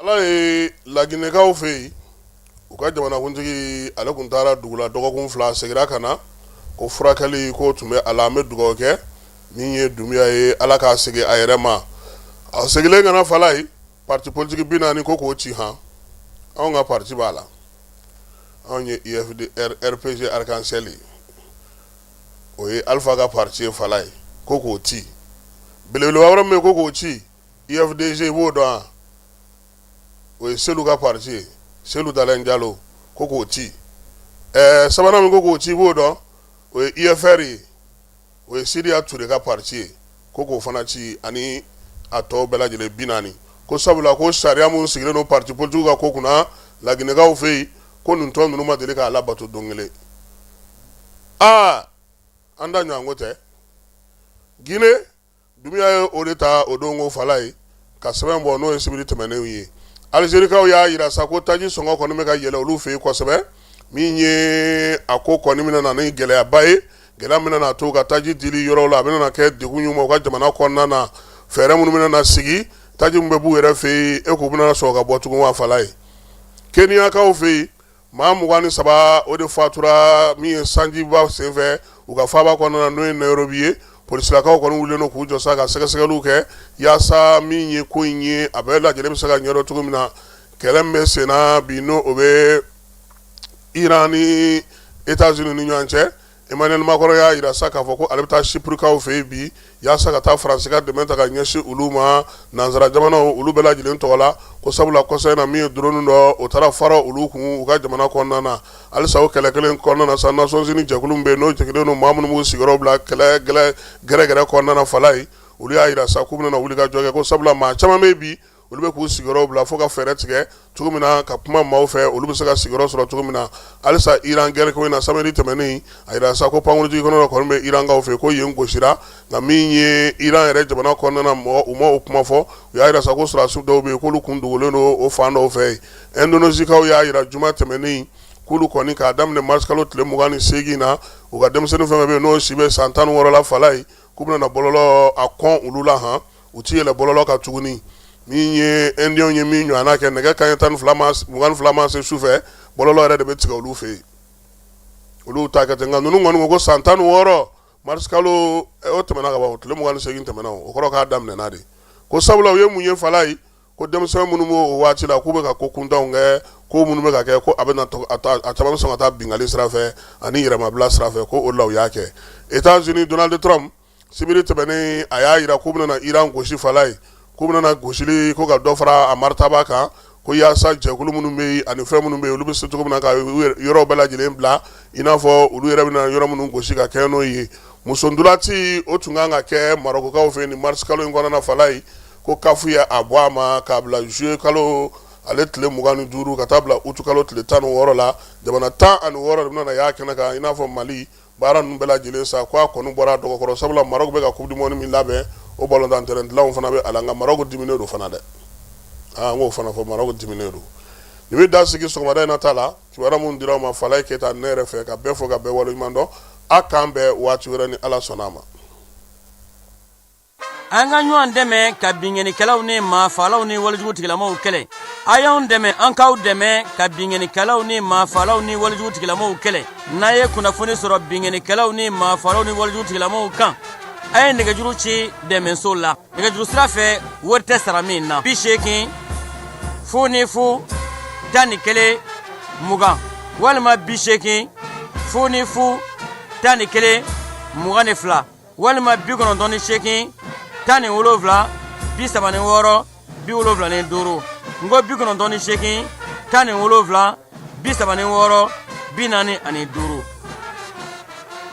Ala ye laginɛkaw fɛ yen u ka jamanakuntigi ale kun taara dugu la dɔgɔkun fila segira ka na ko furakɛli k'o tun bɛ a la an bɛ dugawu kɛ min ye Dunbuya ye ala k'a segin a yɛrɛ ma a segilen ka na fala ye pati politigi bi naani ko k'o ci han anw ka pati b'a la anw ye RPG Arc-en-ciel o ye alifa ka pati ye fala ye ko k'o ci belebeleba wɛrɛ min ko k'o ci UFDG i b'o dɔn o ye Selu ka pati ye Selu Dalen Jalo ko k'o ci ɛɛ sabanan min ko k'o ci b'o dɔn o ye UFR ye o ye Sidiya Ture ka pati ye ko k'o fana ci ani a tɔ bɛɛ lajɛlen bi naani ko sabula ko sariya minnu sigilen don pati politigiw ka ko kunna laginɛkaw fɛ yen ko nin tɔn ninnu ma deli k'a labato don kelen aa an da ɲɔgɔn ko tɛ g Dunbuya ye o de ta o don ko fala ye ka sɛbɛn bɔ n'o ye sibiri tɛmɛnenw ye alizerikaw y'a yira sa ko taji sɔngɔ kɔni bɛ ka yɛlɛ olu fɛ yen kosɛbɛ min ye a ko kɔni bɛna na ni gɛlɛyaba ye gɛlɛya min bɛna na to ka taji diliyɔrɔw la a bɛna kɛ degun ye u ka jamana kɔnɔna na fɛɛrɛ minnu bɛna na sigi taji min bɛ b'u yɛrɛ fɛ yen e k'u bɛna sɔrɔ ka bɔ tugun wa fala ye keniyakaw fɛ yen maa mugan ni saba o de fatura min ye sanjiba senfɛ u ka faaba kɔnɔna n'o ye Nayirobi ye polisilakaw kɔni wulilen don k'u jɔ sa ka sɛgɛsɛgɛliw kɛ yaasa min ye ko in ye a bɛɛ lajɛlen bɛ se ka ɲɛdɔn cogo min na kɛlɛ min bɛ sen na bi n'o bɛ iran ni etazini ni ɲɔgɔn cɛ Emmanuel Macron y'a yira sa k'a fɔ ko ale bɛ taa Chyprekaw fɛ yen bi yaasa ka taa faransi ka dɛmɛ ta ka ɲɛsin olu ma nansara jamanaw olu bɛɛ lajɛlen tɔgɔ la ko sabula kɔsa in na min ye drone dɔ o taara fara olu kun u ka jamana kɔnɔna na halisa o kɛlɛ kelen kɔnɔna na sa Nations Unies jɛkulu bɛ yen n'o jɛngɛlen don maa minnu b'u sigiyɔrɔ bila kɛlɛ gɛrɛgɛrɛ kɔnɔna fala ye olu y'a yira sa k'u bɛna wuli ka jɔ kɛ ko sabula maa caman bɛ bi olu bɛ k'u sigiyɔrɔ bila fo ka fɛɛrɛ tigɛ cogo min na ka kuma maaw fɛ olu bɛ se ka sigiyɔrɔ sɔrɔ cogo min na halisa iran gɛrɛ ko in na sibiri tɛmɛnen a yira sa ko pankurunjigikɛnɛ kɔni bɛ irankaw fɛ ko yen gosira nka min ye iran yɛrɛ jamana kɔnɔna mɔgɔw ma o kuma fɔ u y'a yira sa ko sɔrɔdasiw dɔw bɛ yen k'olu kun dogolen don o fan dɔw fɛ yen ɛndonezikaw y'a yira juma tɛmɛnen k'olu kɔni k'a daminɛ marisi kalo tile mugan ni segin na u ka denmisɛnnin fɛn fɛn bɛ yen n'o si bɛ san tan ni wɔɔrɔ la fala ye k'u bɛna bɔlɔlɔ a kɔn olu la han u tɛ yɛlɛ bɔlɔlɔ kan tuguni min ye ɛndi ye min ɲɔgɔnna kɛ nɛgɛ kanɲɛ mugan ni fila ma se su fɛ bɔlɔlɔ yɛrɛ de bɛ tigɛ olu fɛ yen olu ta ka ten nka ninnu kɔni ko san tan ni wɔɔrɔ marisi kalo o tɛmɛna kalo tile mugan ni segin tɛmɛna o kɔrɔ k'a daminɛna de ko sabula u ye mun ye fala ye ko denmisɛnw minnu b'o waati la k'u bɛ ka ko kuntanw kɛ ko minnu bɛ ka kɛ ko a bɛ a caman bɛ sɔn ka taa binkanni sira fɛ ani yɛrɛmabila sira fɛ ko o la u y'a kɛ etazini Donald Trump sibiri tɛmɛnen a y'a yira k'u bɛna Iran gosi Falaye, k'u bɛna gosili ko ka dɔ fara a maritaba kan ko yaasa jɛkulu minnu bɛ yen ani fɛn minnu bɛ yen olu bɛ se cogo min na ka yɔrɔ bɛɛ lajɛlen bila i n'a fɔ olu yɛrɛ bɛna yɔrɔ minnu gosi ka kɛ n'o ye muso ntolaci o tun kan ka kɛ marɔkokaw fɛ nin mars kalo in kɔnɔna Falaye ko CAF ye a bɔ a ma k'a bila juillet kalo ale tile mugan ni duuru ka taa bila août kalo tile tan ni wɔɔrɔ la jamana tan ani wɔɔrɔ de bɛna y'a kɛnɛ kan i n'a fɔ Mali baara ninnu bɛɛ lajɛlen sa k' a kɔni bɔra dɔgɔkɔrɔ sabula Maroc bɛ ka coupe du monde min labɛn o balontan terrain dilanw fana bɛ a la nka Maroc diminen don fana dɛ an k'o fana fɔ Maroc diminen don ne bɛ dan sigi sɔgɔmada in na ta la kibaruya minnu dira a ma Falaye Keyita ne yɛrɛ fɛ ka bɛɛ fo ka bɛɛ waleɲuman dɔn a k'an bɛn waati wɛrɛ ni ala sɔnna a ma an ka ɲɔgɔn dɛmɛ ka binkannikɛlaw ni maafalaw ni walijugutigilamaw kɛlɛ a y'an dɛmɛ an k'aw dɛmɛ ka binkannikɛlaw ni maafalaw ni walijugutigilamaw kɛlɛ n'a ye kunnafoni sɔrɔ binkannikɛlaw ni maafalaw ni walijugutigilamaw kan a ye nɛgɛjuru ci dɛmɛso la nɛgɛjuru sira fɛ wari tɛ sara min na bi seegin fu ni fu tan ni kelen mugan walima bi seegin fu ni fu tan ni kelen mugan ni fila walima bi kɔnɔntɔn ni seegin tan ni wolonfila bi saba ni wɔɔrɔ bi wolonfila ni duuru n ko bi kɔnɔntɔn ni seegin tan ni wolonfila bi saba ni wɔɔrɔ bi naani ani duuru